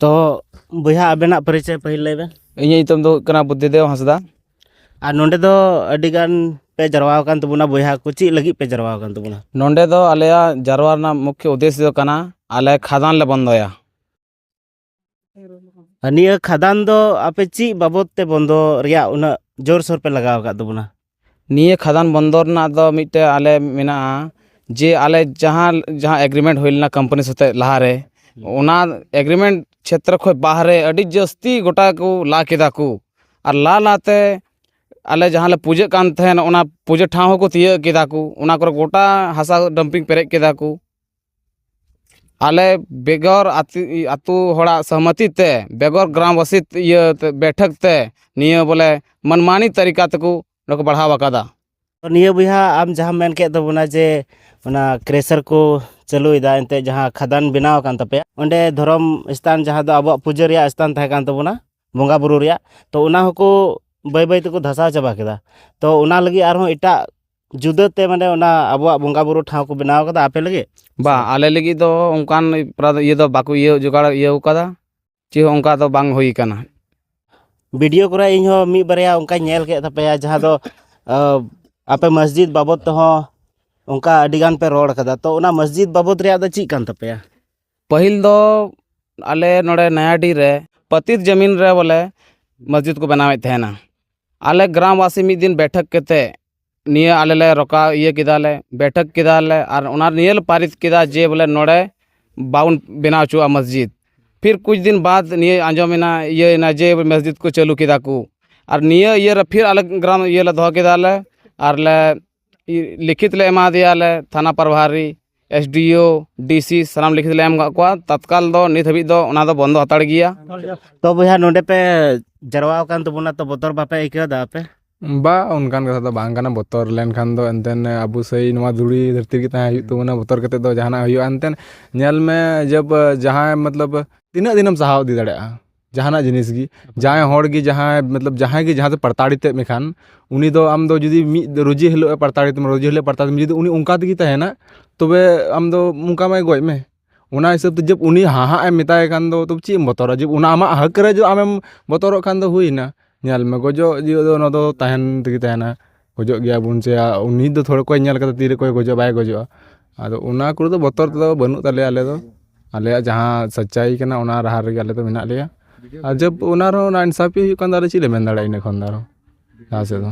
ᱛᱚ ᱵᱚᱭᱦᱟ ᱟᱵᱮᱱᱟᱜ ᱯᱚᱨᱤᱪᱚᱭ ᱯᱟᱹᱦᱤᱞ ᱞᱟᱹᱭ ᱵᱮᱱ ᱤᱧᱟᱹᱜ ᱧᱩᱛᱩᱢ ᱫᱚ ᱦᱩᱭᱩᱜ ᱠᱟᱱᱟ ᱵᱩᱫᱽᱫᱷᱤᱫᱮᱵᱽ ᱦᱟᱸᱥᱫᱟ ᱟᱨ ᱱᱚᱰᱮ ᱫᱚ ᱟᱹᱰᱤ ᱜᱟᱱ ᱯᱮ ᱡᱟᱨᱣᱟ ᱟᱠᱟᱱ ᱛᱟᱵᱚᱱᱟ ᱵᱚᱭᱦᱟ ᱠᱚ ᱪᱮᱫ ᱞᱟᱹᱜᱤᱫ ᱯᱮ ᱡᱟᱨᱣᱟ ᱟᱠᱟᱱ ᱛᱟᱵᱚᱱᱟ ᱱᱚᱰᱮ ᱫᱚ ᱟᱞᱮᱭᱟᱜ ᱡᱟᱨᱣᱟ ᱨᱮᱱᱟᱜ ᱢᱩᱠᱷᱭᱚ ᱩᱫᱽᱫᱮᱥᱥᱚ ᱫᱚ ᱠᱟᱱᱟ ᱟᱞᱮ ᱠᱷᱟᱫᱟᱱ ᱞᱮ ᱵᱚᱱᱫᱚᱭᱟ ᱱᱤᱭᱟᱹ ᱠᱷᱟᱫᱟᱱ ᱫᱚ ᱟᱯᱮ ᱪᱮᱫ ᱵᱟᱵᱚᱫ ᱛᱮ ᱵᱚᱱᱫᱚ ᱨᱮᱭᱟᱜ ᱩᱱᱟᱹᱜ ᱡᱳᱨᱥᱳᱨ ᱯᱮ ᱞᱟᱜᱟᱣ ᱟᱠᱟᱫ ᱛᱟᱵᱚᱱᱟ ᱱᱤᱭᱟᱹ ᱠᱷᱟᱫᱟᱱ ᱵᱚᱱᱫᱚ ᱨᱮᱱᱟᱜ ᱫᱚ ᱢᱤᱫᱴᱮᱱ ᱟᱞᱮ ᱢᱮᱱᱟᱜᱼᱟ ᱡᱮ ᱟᱞᱮ ᱡᱟᱦᱟᱸ ᱡᱟᱦᱟᱸ ᱮᱜᱽᱨᱤᱢᱮᱱᱴ ᱦᱩᱭ ᱞᱮᱱᱟ ᱠᱳᱢᱯᱟᱱᱤ ᱥᱟᱛᱮᱜ ᱞᱟᱦᱟᱨᱮ ᱚᱱᱟ ᱮᱜᱽᱨᱤᱢᱮᱱᱴ ᱪᱷᱮᱛᱨᱚ ᱠᱷᱚᱱ ᱵᱟᱦᱨᱮ ᱟᱹᱰᱤ ᱡᱟᱹᱥᱛᱤ ᱜᱳᱴᱟ ᱠᱚ ᱞᱟ ᱠᱮᱫᱟ ᱠᱚ ᱟᱨ ᱞᱟ ᱞᱟ ᱛᱮ ᱟᱞᱮ ᱡᱟᱦᱟᱸ ᱞᱮ ᱯᱩᱡᱟᱹᱜ ᱠᱟᱱ ᱛᱟᱦᱮᱱ ᱚᱱᱟ ᱯᱩᱡᱟᱹ ᱴᱷᱟᱶ ᱦᱚᱸᱠᱚ ᱛᱤᱭᱳᱜ ᱠᱮᱫᱟ ᱠᱚ ᱚᱱᱟ ᱠᱚᱨᱮᱜ ᱜᱳᱴᱟ ᱦᱟᱥᱟ ᱰᱟᱢᱯᱤᱝ ᱯᱮᱨᱮᱡ ᱠᱮᱫᱟ ᱠᱚ ᱟᱞᱮ ᱵᱮᱜᱚᱨ ᱟᱹᱛᱩ ᱦᱚᱲᱟᱜ ᱥᱚᱦᱚᱢᱚᱛᱤ ᱛᱮ ᱵᱮᱜᱚᱨ ᱜᱨᱟᱢᱵᱟᱥᱤ ᱤᱭᱟᱹ ᱵᱮᱴᱷᱟᱹᱠ ᱛᱮ ᱱᱤᱭᱟᱹ ᱵᱚᱞᱮ ᱢᱟᱱᱢᱟᱱᱤ ᱛᱟᱹᱨᱤᱠᱟ ᱛᱮᱠᱚ ᱱᱚᱣᱟ ᱠᱚ ᱵᱟᱲᱦᱟᱣ ᱟᱠᱟᱫᱟ ᱱᱤᱭᱟᱹ ᱵᱚᱭᱦᱟ ᱟᱢ ᱡᱟᱦᱟᱸᱢ ᱢᱮᱱ ᱠᱮᱫ ᱛᱟᱵᱚᱱᱟ ᱡᱮ ᱚᱱᱟ ᱠᱨᱮᱥᱟᱨ ᱠᱚ ᱪᱟᱹᱞᱩᱭᱮᱫᱟ ᱮᱱᱛᱮᱫ ᱡᱟᱦᱟᱸ ᱠᱷᱟᱫᱟᱱ ᱵᱮᱱᱟᱣ ᱟᱠᱟᱱ ᱛᱟᱯᱮᱭᱟ ᱚᱸᱰᱮ ᱫᱷᱚᱨᱚᱢ ᱥᱛᱷᱟᱱ ᱡᱟᱦᱟᱸ ᱫᱚ ᱟᱵᱚᱣᱟᱜ ᱯᱩᱡᱟᱹ ᱨᱮᱭᱟᱜ ᱥᱛᱷᱟᱱ ᱛᱟᱦᱮᱸ ᱠᱟᱱ ᱛᱟᱵᱚᱱᱟ ᱵᱚᱸᱜᱟ ᱵᱩᱨᱩ ᱨᱮᱭᱟᱜ ᱛᱚ ᱚᱱᱟ ᱦᱚᱸᱠᱚ ᱵᱟᱹᱭ ᱵᱟᱹᱭ ᱛᱮᱠᱚ ᱫᱷᱟᱥᱟᱣ ᱪᱟᱵᱟ ᱠᱮᱫᱟ ᱛᱚ ᱚᱱᱟ ᱞᱟᱹᱜᱤᱫ ᱟᱨᱦᱚᱸ ᱮᱴᱟᱜ ᱡᱩᱫᱟᱹᱛᱮ ᱢᱟᱱᱮ ᱚᱱᱟ ᱟᱵᱚᱣᱟᱜ ᱵᱚᱸᱜᱟ ᱵᱩᱨᱩ ᱴᱷᱟᱶ ᱠᱚ ᱵᱮᱱᱟᱣ ᱠᱟᱫᱟ ᱟᱯᱮ ᱞᱟᱹᱜᱤᱫ ᱵᱟᱝ ᱟᱞᱮ ᱞᱟᱹᱜᱤᱫ ᱫᱚ ᱚᱱᱠᱟᱱ ᱯᱨᱟ ᱤᱭᱟᱹ ᱫᱚ ᱵᱟᱠᱚ ᱤᱭᱟᱹ ᱡᱚᱜᱟᱲ ᱤᱭᱟᱹᱣ ᱠᱟᱫᱟ ᱪᱮᱫ ᱦᱚᱸ ᱚᱱᱠᱟ ᱫᱚ ᱵᱟᱝ ᱦᱩᱭ ᱠᱟᱱᱟ ᱵᱷᱤᱰᱤᱭᱳ ᱠᱚᱨᱮ ᱤᱧ ᱦᱚᱸ ᱢᱤᱫ ᱵᱟᱨᱭᱟ ᱚᱱᱠᱟᱧ ᱧᱮᱞ ᱠᱮᱫ ᱛᱟᱯᱮᱭᱟ ᱡᱟᱦᱟᱸ ᱫᱚ ᱟᱯᱮ ᱢᱚᱥᱡᱤᱫ ᱵᱟᱵᱚᱫ ᱛᱮᱦᱚᱸ ᱚᱱᱠᱟ ᱟᱹᱰᱤ ᱜᱟᱱ ᱯᱮ ᱨᱚᱲ ᱠᱟᱫᱟ ᱛᱚ ᱚᱱᱟ ᱢᱚᱥᱡᱤᱫ ᱵᱟᱵᱚᱫ ᱨᱮᱭᱟᱜ ᱫᱚ ᱪᱮᱫ ᱠᱟᱱ ᱛᱟᱯᱮᱭᱟ ᱯᱟᱹᱦᱤᱞ ᱫᱚ ᱟᱞᱮ ᱱᱚᱰᱮ ᱱᱚᱭᱟᱰᱤ ᱨᱮ ᱯᱟᱛᱤᱛ ᱡᱟᱢᱤᱱ ᱨᱮ ᱵᱚᱞᱮ ᱢᱚᱥᱡᱤᱫᱽ ᱠᱚ ᱵᱮᱱᱟᱣᱮᱫ ᱛᱟᱦᱮᱱᱟ ᱟᱞᱮ ᱜᱨᱟᱢ ᱵᱟᱥᱤ ᱢᱤᱫ ᱫᱤᱱ ᱵᱮᱴᱷᱟᱠ ᱠᱟᱛᱮ ᱱᱤᱭᱟᱹ ᱟᱞᱮ ᱞᱮ ᱨᱚᱠᱟᱣ ᱤᱭᱟᱹ ᱠᱮᱫᱟᱞᱮ ᱵᱮᱴᱷᱟᱠ ᱠᱮᱫᱟᱞᱮ ᱟᱨ ᱚᱱᱟ ᱱᱤᱭᱟᱹ ᱞᱮ ᱯᱟᱨᱤᱛ ᱠᱮᱫᱟ ᱡᱮ ᱵᱚᱞᱮ ᱱᱚᱰᱮ ᱵᱟᱵᱚᱱ ᱵᱮᱱᱟᱣ ᱚᱪᱚᱣᱟᱜᱼᱟ ᱢᱚᱥᱡᱤᱫᱽ ᱯᱷᱤᱨ ᱠᱩᱪ ᱫᱤᱱ ᱵᱟᱫᱽ ᱱᱤᱭᱟᱹ ᱟᱸᱡᱚᱢᱮᱱᱟ ᱤᱭᱟᱹᱭᱮᱱᱟ ᱡᱮ ᱢᱚᱥᱡᱤᱫᱽ ᱠᱚ ᱪᱟᱹᱞᱩ ᱠᱮᱫᱟ ᱠᱚ ᱟᱨ ᱱᱤᱭᱟᱹ ᱤᱭᱟᱹ ᱨᱮ ᱯᱷᱤᱨ ᱟᱞᱮ ᱜᱨᱟᱢ ᱤᱭᱟᱹ ᱞᱮ ᱫᱚᱦᱚ ᱠᱮᱫᱟᱞᱮ ᱟᱨ ᱞᱮ ᱞᱤᱠᱷᱤᱛ ᱞᱮ ᱮᱢᱟ ᱫᱮᱭᱟ ᱞᱮ ᱛᱷᱟᱱᱟ ᱯᱨᱚᱵᱷᱟᱨᱤ ᱮᱥ ᱰᱤ ᱳ ᱰᱤ ᱥᱤ ᱥᱟᱱᱟᱢ ᱞᱤᱠᱷᱤᱛ ᱞᱮ ᱮᱢ ᱠᱟᱜ ᱠᱚᱣᱟ ᱛᱟᱛᱠᱟᱞ ᱫᱚ ᱱᱤᱛ ᱦᱟᱹᱵᱤᱡ ᱫᱚ ᱚᱱᱟ ᱫᱚ ᱵᱚᱱᱫᱚ ᱦᱟᱛᱟᱲ ᱜᱮᱭᱟ ᱛᱚ ᱵᱚᱭᱦᱟ ᱱᱚᱰᱮ ᱯᱮ ᱡᱟᱨᱣᱟ ᱟᱠᱟᱱ ᱛᱟᱵᱚᱱᱟ ᱛᱚ ᱵᱚᱛᱚᱨ ᱵᱟᱯᱮ ᱟᱹᱭᱠᱟᱹᱣ ᱮᱫᱟ ᱟᱯᱮ ᱵᱟ ᱚᱱᱠᱟᱱ ᱠᱟᱛᱷᱟ ᱫᱚ ᱵᱟᱝ ᱠᱟᱱᱟ ᱵᱚᱛᱚᱨ ᱞᱮᱱᱠᱷᱟᱱ ᱫᱚ ᱮᱱᱛᱮᱫ ᱟᱵᱚ ᱥᱮᱭ ᱱᱚᱣᱟ ᱫᱷᱩᱲᱤ ᱫᱷᱟᱹᱨᱛᱤ ᱨᱮᱜᱮ ᱛᱟᱦᱮᱸ ᱦᱩᱭᱩᱜ ᱛᱟᱵᱚᱱᱟ ᱵᱚᱛᱚᱨ ᱠᱟᱛᱮᱫ ᱫᱚ ᱡᱟᱦᱟᱱᱟᱜ ᱦᱩᱭᱩᱜᱼᱟ ᱮᱱᱛᱮᱫ ᱧᱮᱞ ᱢᱮ ᱡᱟᱦᱟᱸᱭ ᱢᱚᱛᱞᱚᱵ ᱛᱤᱱᱟᱹᱜ ᱫᱤᱱᱮᱢ ᱥᱟᱦᱟᱣ ᱤᱫᱤ ᱫᱟᱲᱮᱭᱟᱜᱼᱟ ᱡᱟᱦᱟᱱᱟᱜ ᱡᱤᱱᱤᱥ ᱜᱮ ᱡᱟᱦᱟᱸᱭ ᱦᱚᱲ ᱜᱮ ᱡᱟᱦᱟᱸᱭ ᱢᱚᱛᱞᱚᱵ ᱡᱟᱦᱟᱸᱭ ᱜᱮ ᱡᱟᱦᱟᱸ ᱛᱮ ᱯᱨᱚᱛᱟᱲᱤᱛᱮᱫ ᱢᱮᱠᱷᱟᱱ ᱩᱱᱤ ᱫᱚ ᱟᱢ ᱫᱚ ᱡᱩᱫᱤ ᱢᱤᱫ ᱨᱩᱡᱤ ᱦᱤᱞᱳᱜ ᱮ ᱯᱨᱚᱛᱟᱲᱤᱛ ᱢᱮᱭᱟ ᱨᱩᱡᱤ ᱦᱤᱞᱳᱜ ᱯᱨᱚᱛᱟᱲᱤᱛ ᱢᱮᱭᱟ ᱡᱩᱫᱤ ᱩᱱᱤ ᱚᱱᱠᱟ ᱛᱮᱜᱮᱭ ᱛᱟᱦᱮᱱᱟ ᱛᱚᱵᱮ ᱟᱢ ᱫᱚ ᱚᱱᱠᱟ ᱢᱟᱭ ᱜᱚᱡ ᱢᱮ ᱚᱱᱟ ᱦᱤᱥᱟᱹᱵ ᱛᱮ ᱡᱟᱵ ᱩᱱᱤ ᱦᱟᱦᱟᱜ ᱮᱢ ᱢᱮᱛᱟᱭ ᱠᱷᱟᱱ ᱫᱚ ᱛᱚᱵᱮ ᱪᱮᱫ ᱮᱢ ᱵᱚᱛᱚᱨᱟ ᱡᱟᱵ ᱚᱱᱟ ᱟᱢᱟᱜ ᱦᱚᱠ ᱨᱮ ᱡᱩᱫᱤ ᱟᱢᱮᱢ ᱵᱚᱛᱚᱨᱚᱜ ᱠᱷᱟᱱ ᱫᱚ ᱦᱩᱭᱮᱱᱟ ᱧᱮᱞ ᱢᱮ ᱜᱚᱡᱚᱜ ᱡᱤᱭᱟᱹᱞᱤ ᱫᱚ ᱚᱱᱟ ᱫᱚ ᱛᱟᱦᱮᱱ ᱛᱮᱜᱮ ᱛᱟᱦᱮᱱᱟ ᱠᱷᱚᱡᱚᱜ ᱜᱮᱭᱟ ᱵᱚᱱ ᱡᱮ ᱩᱱᱤ ᱫᱚ ᱛᱷᱚᱲᱟ ᱚᱠᱚᱭ ᱧᱮᱞ ᱠᱟᱫᱟ ᱛᱤᱨᱮ ᱚᱠᱚᱭ ᱜᱚᱡᱚᱜᱼᱟ ᱵᱟᱭ ᱜᱚᱡᱚᱜᱼᱟ ᱟᱫᱚ ᱚᱱᱟ ᱠᱚᱨᱮ ᱫᱚ ᱵᱚᱛᱚᱨ ᱫᱚ ᱵᱟᱹᱱᱩᱜ ᱛᱟᱞᱮᱭᱟ ᱟᱞᱮ ᱫᱚ ᱟᱞᱮᱭᱟᱜ ᱡᱟᱦᱟᱸ ᱥᱟᱪᱪᱟᱭ ᱠᱟᱱᱟ ᱚᱱᱟ ᱰᱟᱦᱟᱨ ᱨᱮᱜᱮ ᱟᱞᱮ ᱫᱚ ᱢᱮᱱᱟᱜ ᱞᱮᱭᱟ ᱟᱨ ᱡᱚᱵᱽ ᱚᱱᱟ ᱨᱮᱦᱚᱸ ᱱᱟ ᱤᱱᱥᱟᱯᱷᱤ ᱦᱩᱭᱩᱜ ᱠᱟᱱ ᱫᱚ ᱟᱫᱚ ᱪᱮᱫ ᱞᱮ ᱢᱮᱱ ᱫᱟᱲᱮᱭᱟᱜᱼᱟ ᱤᱱᱟᱹ ᱠᱷᱚᱱ ᱫᱚ ᱟᱨᱚ ᱞᱟᱦᱟ ᱥᱮᱫ ᱫᱚ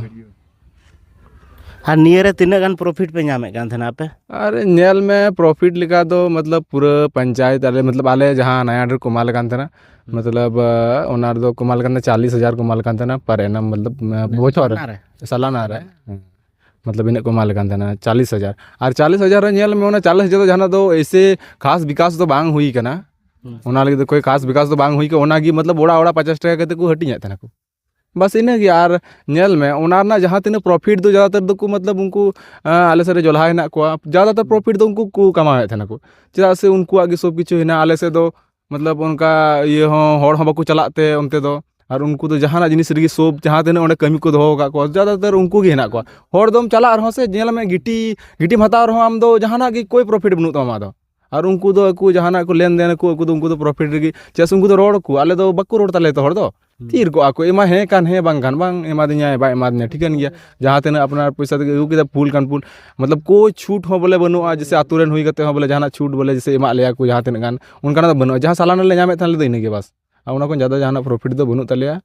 ᱟᱨ ᱱᱤᱭᱟᱹ ᱨᱮ ᱛᱤᱱᱟᱹᱜ ᱜᱟᱱ ᱯᱨᱚᱯᱷᱤᱴ ᱯᱮ ᱧᱟᱢᱮᱫ ᱠᱟᱱ ᱛᱟᱦᱮᱱᱟ ᱟᱯᱮ ᱟᱨ ᱧᱮᱞ ᱢᱮ ᱯᱨᱚᱯᱷᱤᱴ ᱞᱮᱠᱟ ᱫᱚ ᱢᱚᱛᱞᱚᱵᱽ ᱯᱩᱨᱟᱹ ᱯᱚᱧᱪᱟᱭᱮᱛ ᱟᱞᱮ ᱢᱚᱛᱞᱚᱵᱽ ᱟᱞᱮ ᱡᱟᱦᱟᱸ ᱱᱟᱭᱟᱜᱚᱲ ᱨᱮᱠᱚ ᱮᱢᱟᱞᱮ ᱠᱟᱱ ᱛᱟᱦᱮᱱᱟ ᱢᱚᱛᱞᱚᱵ ᱚᱱᱟ ᱨᱮᱫᱚ ᱠᱚ ᱮᱢᱟᱞᱮ ᱠᱟᱱ ᱛᱟᱦᱮᱱᱟ ᱪᱟᱞᱞᱤᱥ ᱦᱟᱡᱟᱨ ᱠᱚ ᱮᱢᱟᱞᱮ ᱠᱟᱱ ᱛᱟᱦᱮᱱᱟ ᱯᱟᱨ ᱮᱱᱟᱢ ᱢᱚᱛᱞᱚᱵ ᱵᱚᱪᱷᱚᱨ ᱨᱮ ᱥᱟᱞᱟᱱᱟ ᱨᱮ ᱢᱚᱛᱞᱚᱵ ᱤᱱᱟᱹᱜ ᱠᱚ ᱮᱢᱟᱞᱮ ᱠᱟᱱ ᱛᱟᱦᱮᱱᱟ ᱪᱟᱞᱞᱤᱥ ᱦᱟᱡᱟᱨ ᱟᱨ ᱪᱟᱞᱞᱤᱥ ᱦᱟᱡᱟᱨ ᱨᱮ ᱧᱮᱞ ᱢᱮ ᱚᱱᱟ ᱪᱟᱞᱞᱤᱥ ᱦᱟᱡᱟᱨ ᱫᱚ ᱡᱟᱦᱟᱱᱟᱜ ᱫᱚ ᱮᱭᱥᱮ ᱠᱷᱟᱥ ᱵᱤᱠᱟᱥ ᱫᱚ ᱵᱟᱝ ᱦᱩᱭ ᱠᱟᱱᱟ ᱚᱱᱟ ᱞᱟᱹᱜᱤᱫ ᱫᱚ ᱠᱳᱭ ᱠᱷᱟᱥ ᱵᱤᱠᱟᱥ ᱫᱚ ᱵᱟᱝ ᱦᱩᱭ ᱠᱟᱱᱟ ᱚᱱᱟᱜᱮ ᱢᱚᱛᱞᱚᱵ ᱚᱲᱟᱜ ᱚᱲᱟᱜ ᱯᱚᱪᱟᱥ ᱴᱟᱠᱟ ᱠᱟᱛᱮᱫ ᱠᱚ ᱦᱟᱹᱴᱤᱧᱮᱫ ᱛᱟᱦᱮᱱᱟᱠᱚ ᱵᱟᱥ ᱤᱱᱟᱹ ᱜᱮ ᱟᱨ ᱧᱮᱞ ᱢᱮ ᱚᱱᱟ ᱨᱮᱱᱟᱜ ᱡᱟᱦᱟᱸ ᱛᱤᱱᱟᱹᱜ ᱯᱨᱚᱯᱷᱤᱴ ᱫᱚ ᱡᱟᱫᱟ ᱛᱚᱨ ᱫᱚ ᱠᱚ ᱢᱚᱛᱞᱚᱵ ᱩᱱᱠᱩ ᱟᱞᱮ ᱥᱮᱫ ᱨᱮ ᱡᱚᱞᱦᱟ ᱦᱮᱱᱟᱜ ᱠᱚᱣᱟ ᱡᱟᱫᱟ ᱛᱚᱨ ᱯᱨᱚᱯᱷᱤᱴ ᱫᱚ ᱩᱱᱠᱩ ᱠᱚ ᱠᱟᱢᱟᱣᱮᱫ ᱛᱟᱦᱮᱱᱟ ᱠᱚ ᱪᱮᱫᱟᱜ ᱥᱮ ᱩᱱᱠᱩᱣᱟᱜ ᱜᱮ ᱥᱚᱵ ᱠᱤᱪᱷᱩ ᱦᱮᱱᱟᱜᱼᱟ ᱟᱞᱮ ᱥᱮᱫ ᱫᱚ ᱢᱚᱛᱞᱚᱵ ᱚᱱᱠᱟ ᱤᱭᱟᱹ ᱦᱚᱸ ᱦᱚᱲ ᱦᱚᱸ ᱵᱟᱠᱚ ᱪᱟᱞᱟᱜ ᱛᱮ ᱚᱱᱛᱮ ᱫᱚ ᱟᱨ ᱩᱱᱠᱩ ᱫᱚ ᱡᱟᱦᱟᱱᱟᱜ ᱡᱤᱱᱤᱥ ᱨᱮᱜᱮ ᱥᱚᱵ ᱡᱟᱦᱟᱸ ᱛᱤᱱᱟᱹᱜ ᱚᱸᱰᱮ ᱠᱟᱹᱢᱤ ᱠᱚ ᱫᱚᱦᱚ ᱟᱠᱟᱫ ᱠᱚᱣᱟ ᱡᱟᱫᱟ ᱛᱚᱨ ᱩᱱᱠᱩ ᱜᱮ ᱦᱮᱱᱟᱜ ᱠᱚᱣᱟ ᱦᱚᱲ ᱫᱚᱢ ᱪᱟᱞᱟᱜ ᱨᱮᱦᱚᱸ ᱥᱮ ᱧᱮᱞ ᱢᱮ ᱜᱤᱴᱤ ᱜᱤᱴᱤᱢ ᱦᱟᱛᱟᱣ ᱨᱮᱦᱚᱸ ᱟᱢ ᱫᱚ ᱡᱟᱦᱟᱱᱟᱜ ᱜᱮ ᱠᱳᱭ ᱯᱨᱚᱯᱷᱤᱴ ᱵᱟᱹᱱᱩᱜ ᱛᱟᱢᱟ ᱟᱢᱟᱜ ᱫᱚ ᱟᱨ ᱩᱱᱠᱩ ᱫᱚ ᱟᱠᱚ ᱡᱟᱦᱟᱱᱟᱜ ᱠᱚ ᱞᱮᱱᱫᱮᱱ ᱟᱠᱚ ᱩᱱᱠᱩ ᱫᱚ ᱩᱱᱠᱩ ᱫᱚ ᱯᱨᱚᱯᱷᱤᱴ ᱨᱮᱜᱮ ᱪᱮᱫᱟᱜ ᱥᱮ ᱩᱱᱠᱩ ᱫᱚ ᱨᱚᱲ ᱟᱠᱚ ᱟᱞᱮ ᱫᱚ ᱵᱟᱠᱚ ᱨᱚᱲ ᱛᱟᱞᱮᱭᱟ ᱡᱚᱛᱚ ᱦᱚᱲ ᱫᱚ ᱛᱷᱤᱨ ᱠᱚᱜᱼᱟ ᱠᱚ ᱮᱢᱟᱭ ᱦᱮᱸ ᱠᱷᱟᱱ ᱦᱮᱸ ᱵᱟᱝ ᱠᱷᱟᱱ ᱵᱟᱝ ᱮᱢᱟ ᱫᱤᱧᱟᱭ ᱵᱟᱭ ᱮᱢᱟ ᱫᱤᱧᱟ ᱴᱷᱤᱠᱟᱹᱱ ᱜᱮᱭᱟ ᱡᱟᱦᱟᱸ ᱛᱤᱱᱟᱹᱜ ᱟᱯᱱᱟᱨ ᱯᱚᱭᱥᱟ ᱛᱮᱜᱮ ᱟᱹᱜᱩ ᱠᱮᱫᱟ ᱵᱷᱩᱞ ᱠᱷᱟᱱ ᱵᱷᱩᱞ ᱢᱚᱛᱞᱚᱵ ᱠᱳᱭ ᱪᱷᱩᱴ ᱦᱚᱸ ᱵᱚᱞᱮ ᱵᱟᱹᱱᱩᱜᱼᱟ ᱡᱮᱭᱥᱮ ᱟᱹᱛᱩ ᱨᱮᱱ ᱦᱩᱭ ᱠᱟᱛᱮᱫ ᱦᱚᱸ ᱵᱚᱞᱮ ᱡᱟᱦᱟᱱᱟᱜ ᱪᱷᱩᱴ ᱵᱚᱞᱮ ᱡᱮᱭᱥᱮ ᱮᱢᱟᱜ ᱞᱮᱭᱟ ᱠᱚ ᱡᱟᱦᱟᱸ ᱛᱤᱱᱟᱹᱜ ᱜᱟᱱ ᱚᱱᱠᱟᱱᱟᱜ ᱫᱚ ᱵᱟᱹᱱᱩᱜᱼᱟ ᱡᱟᱦᱟᱸ ᱥᱟᱞᱟᱱᱟ ᱞᱮ ᱧᱟᱢᱮᱫ ᱛᱟᱦᱮᱱ ᱟᱞᱮ ᱫᱚ ᱤᱱᱟᱹᱜᱮ ᱵᱟᱥ ᱟᱨ ᱚᱱᱟ ᱠᱷᱚᱱ ᱡᱟᱫᱟ ᱡᱟᱦᱟᱱᱟᱜ ᱯᱨᱚᱯᱷᱤᱴ ᱫᱚ ᱵᱟᱹᱱᱩᱜ ᱛᱟᱞᱮᱭᱟ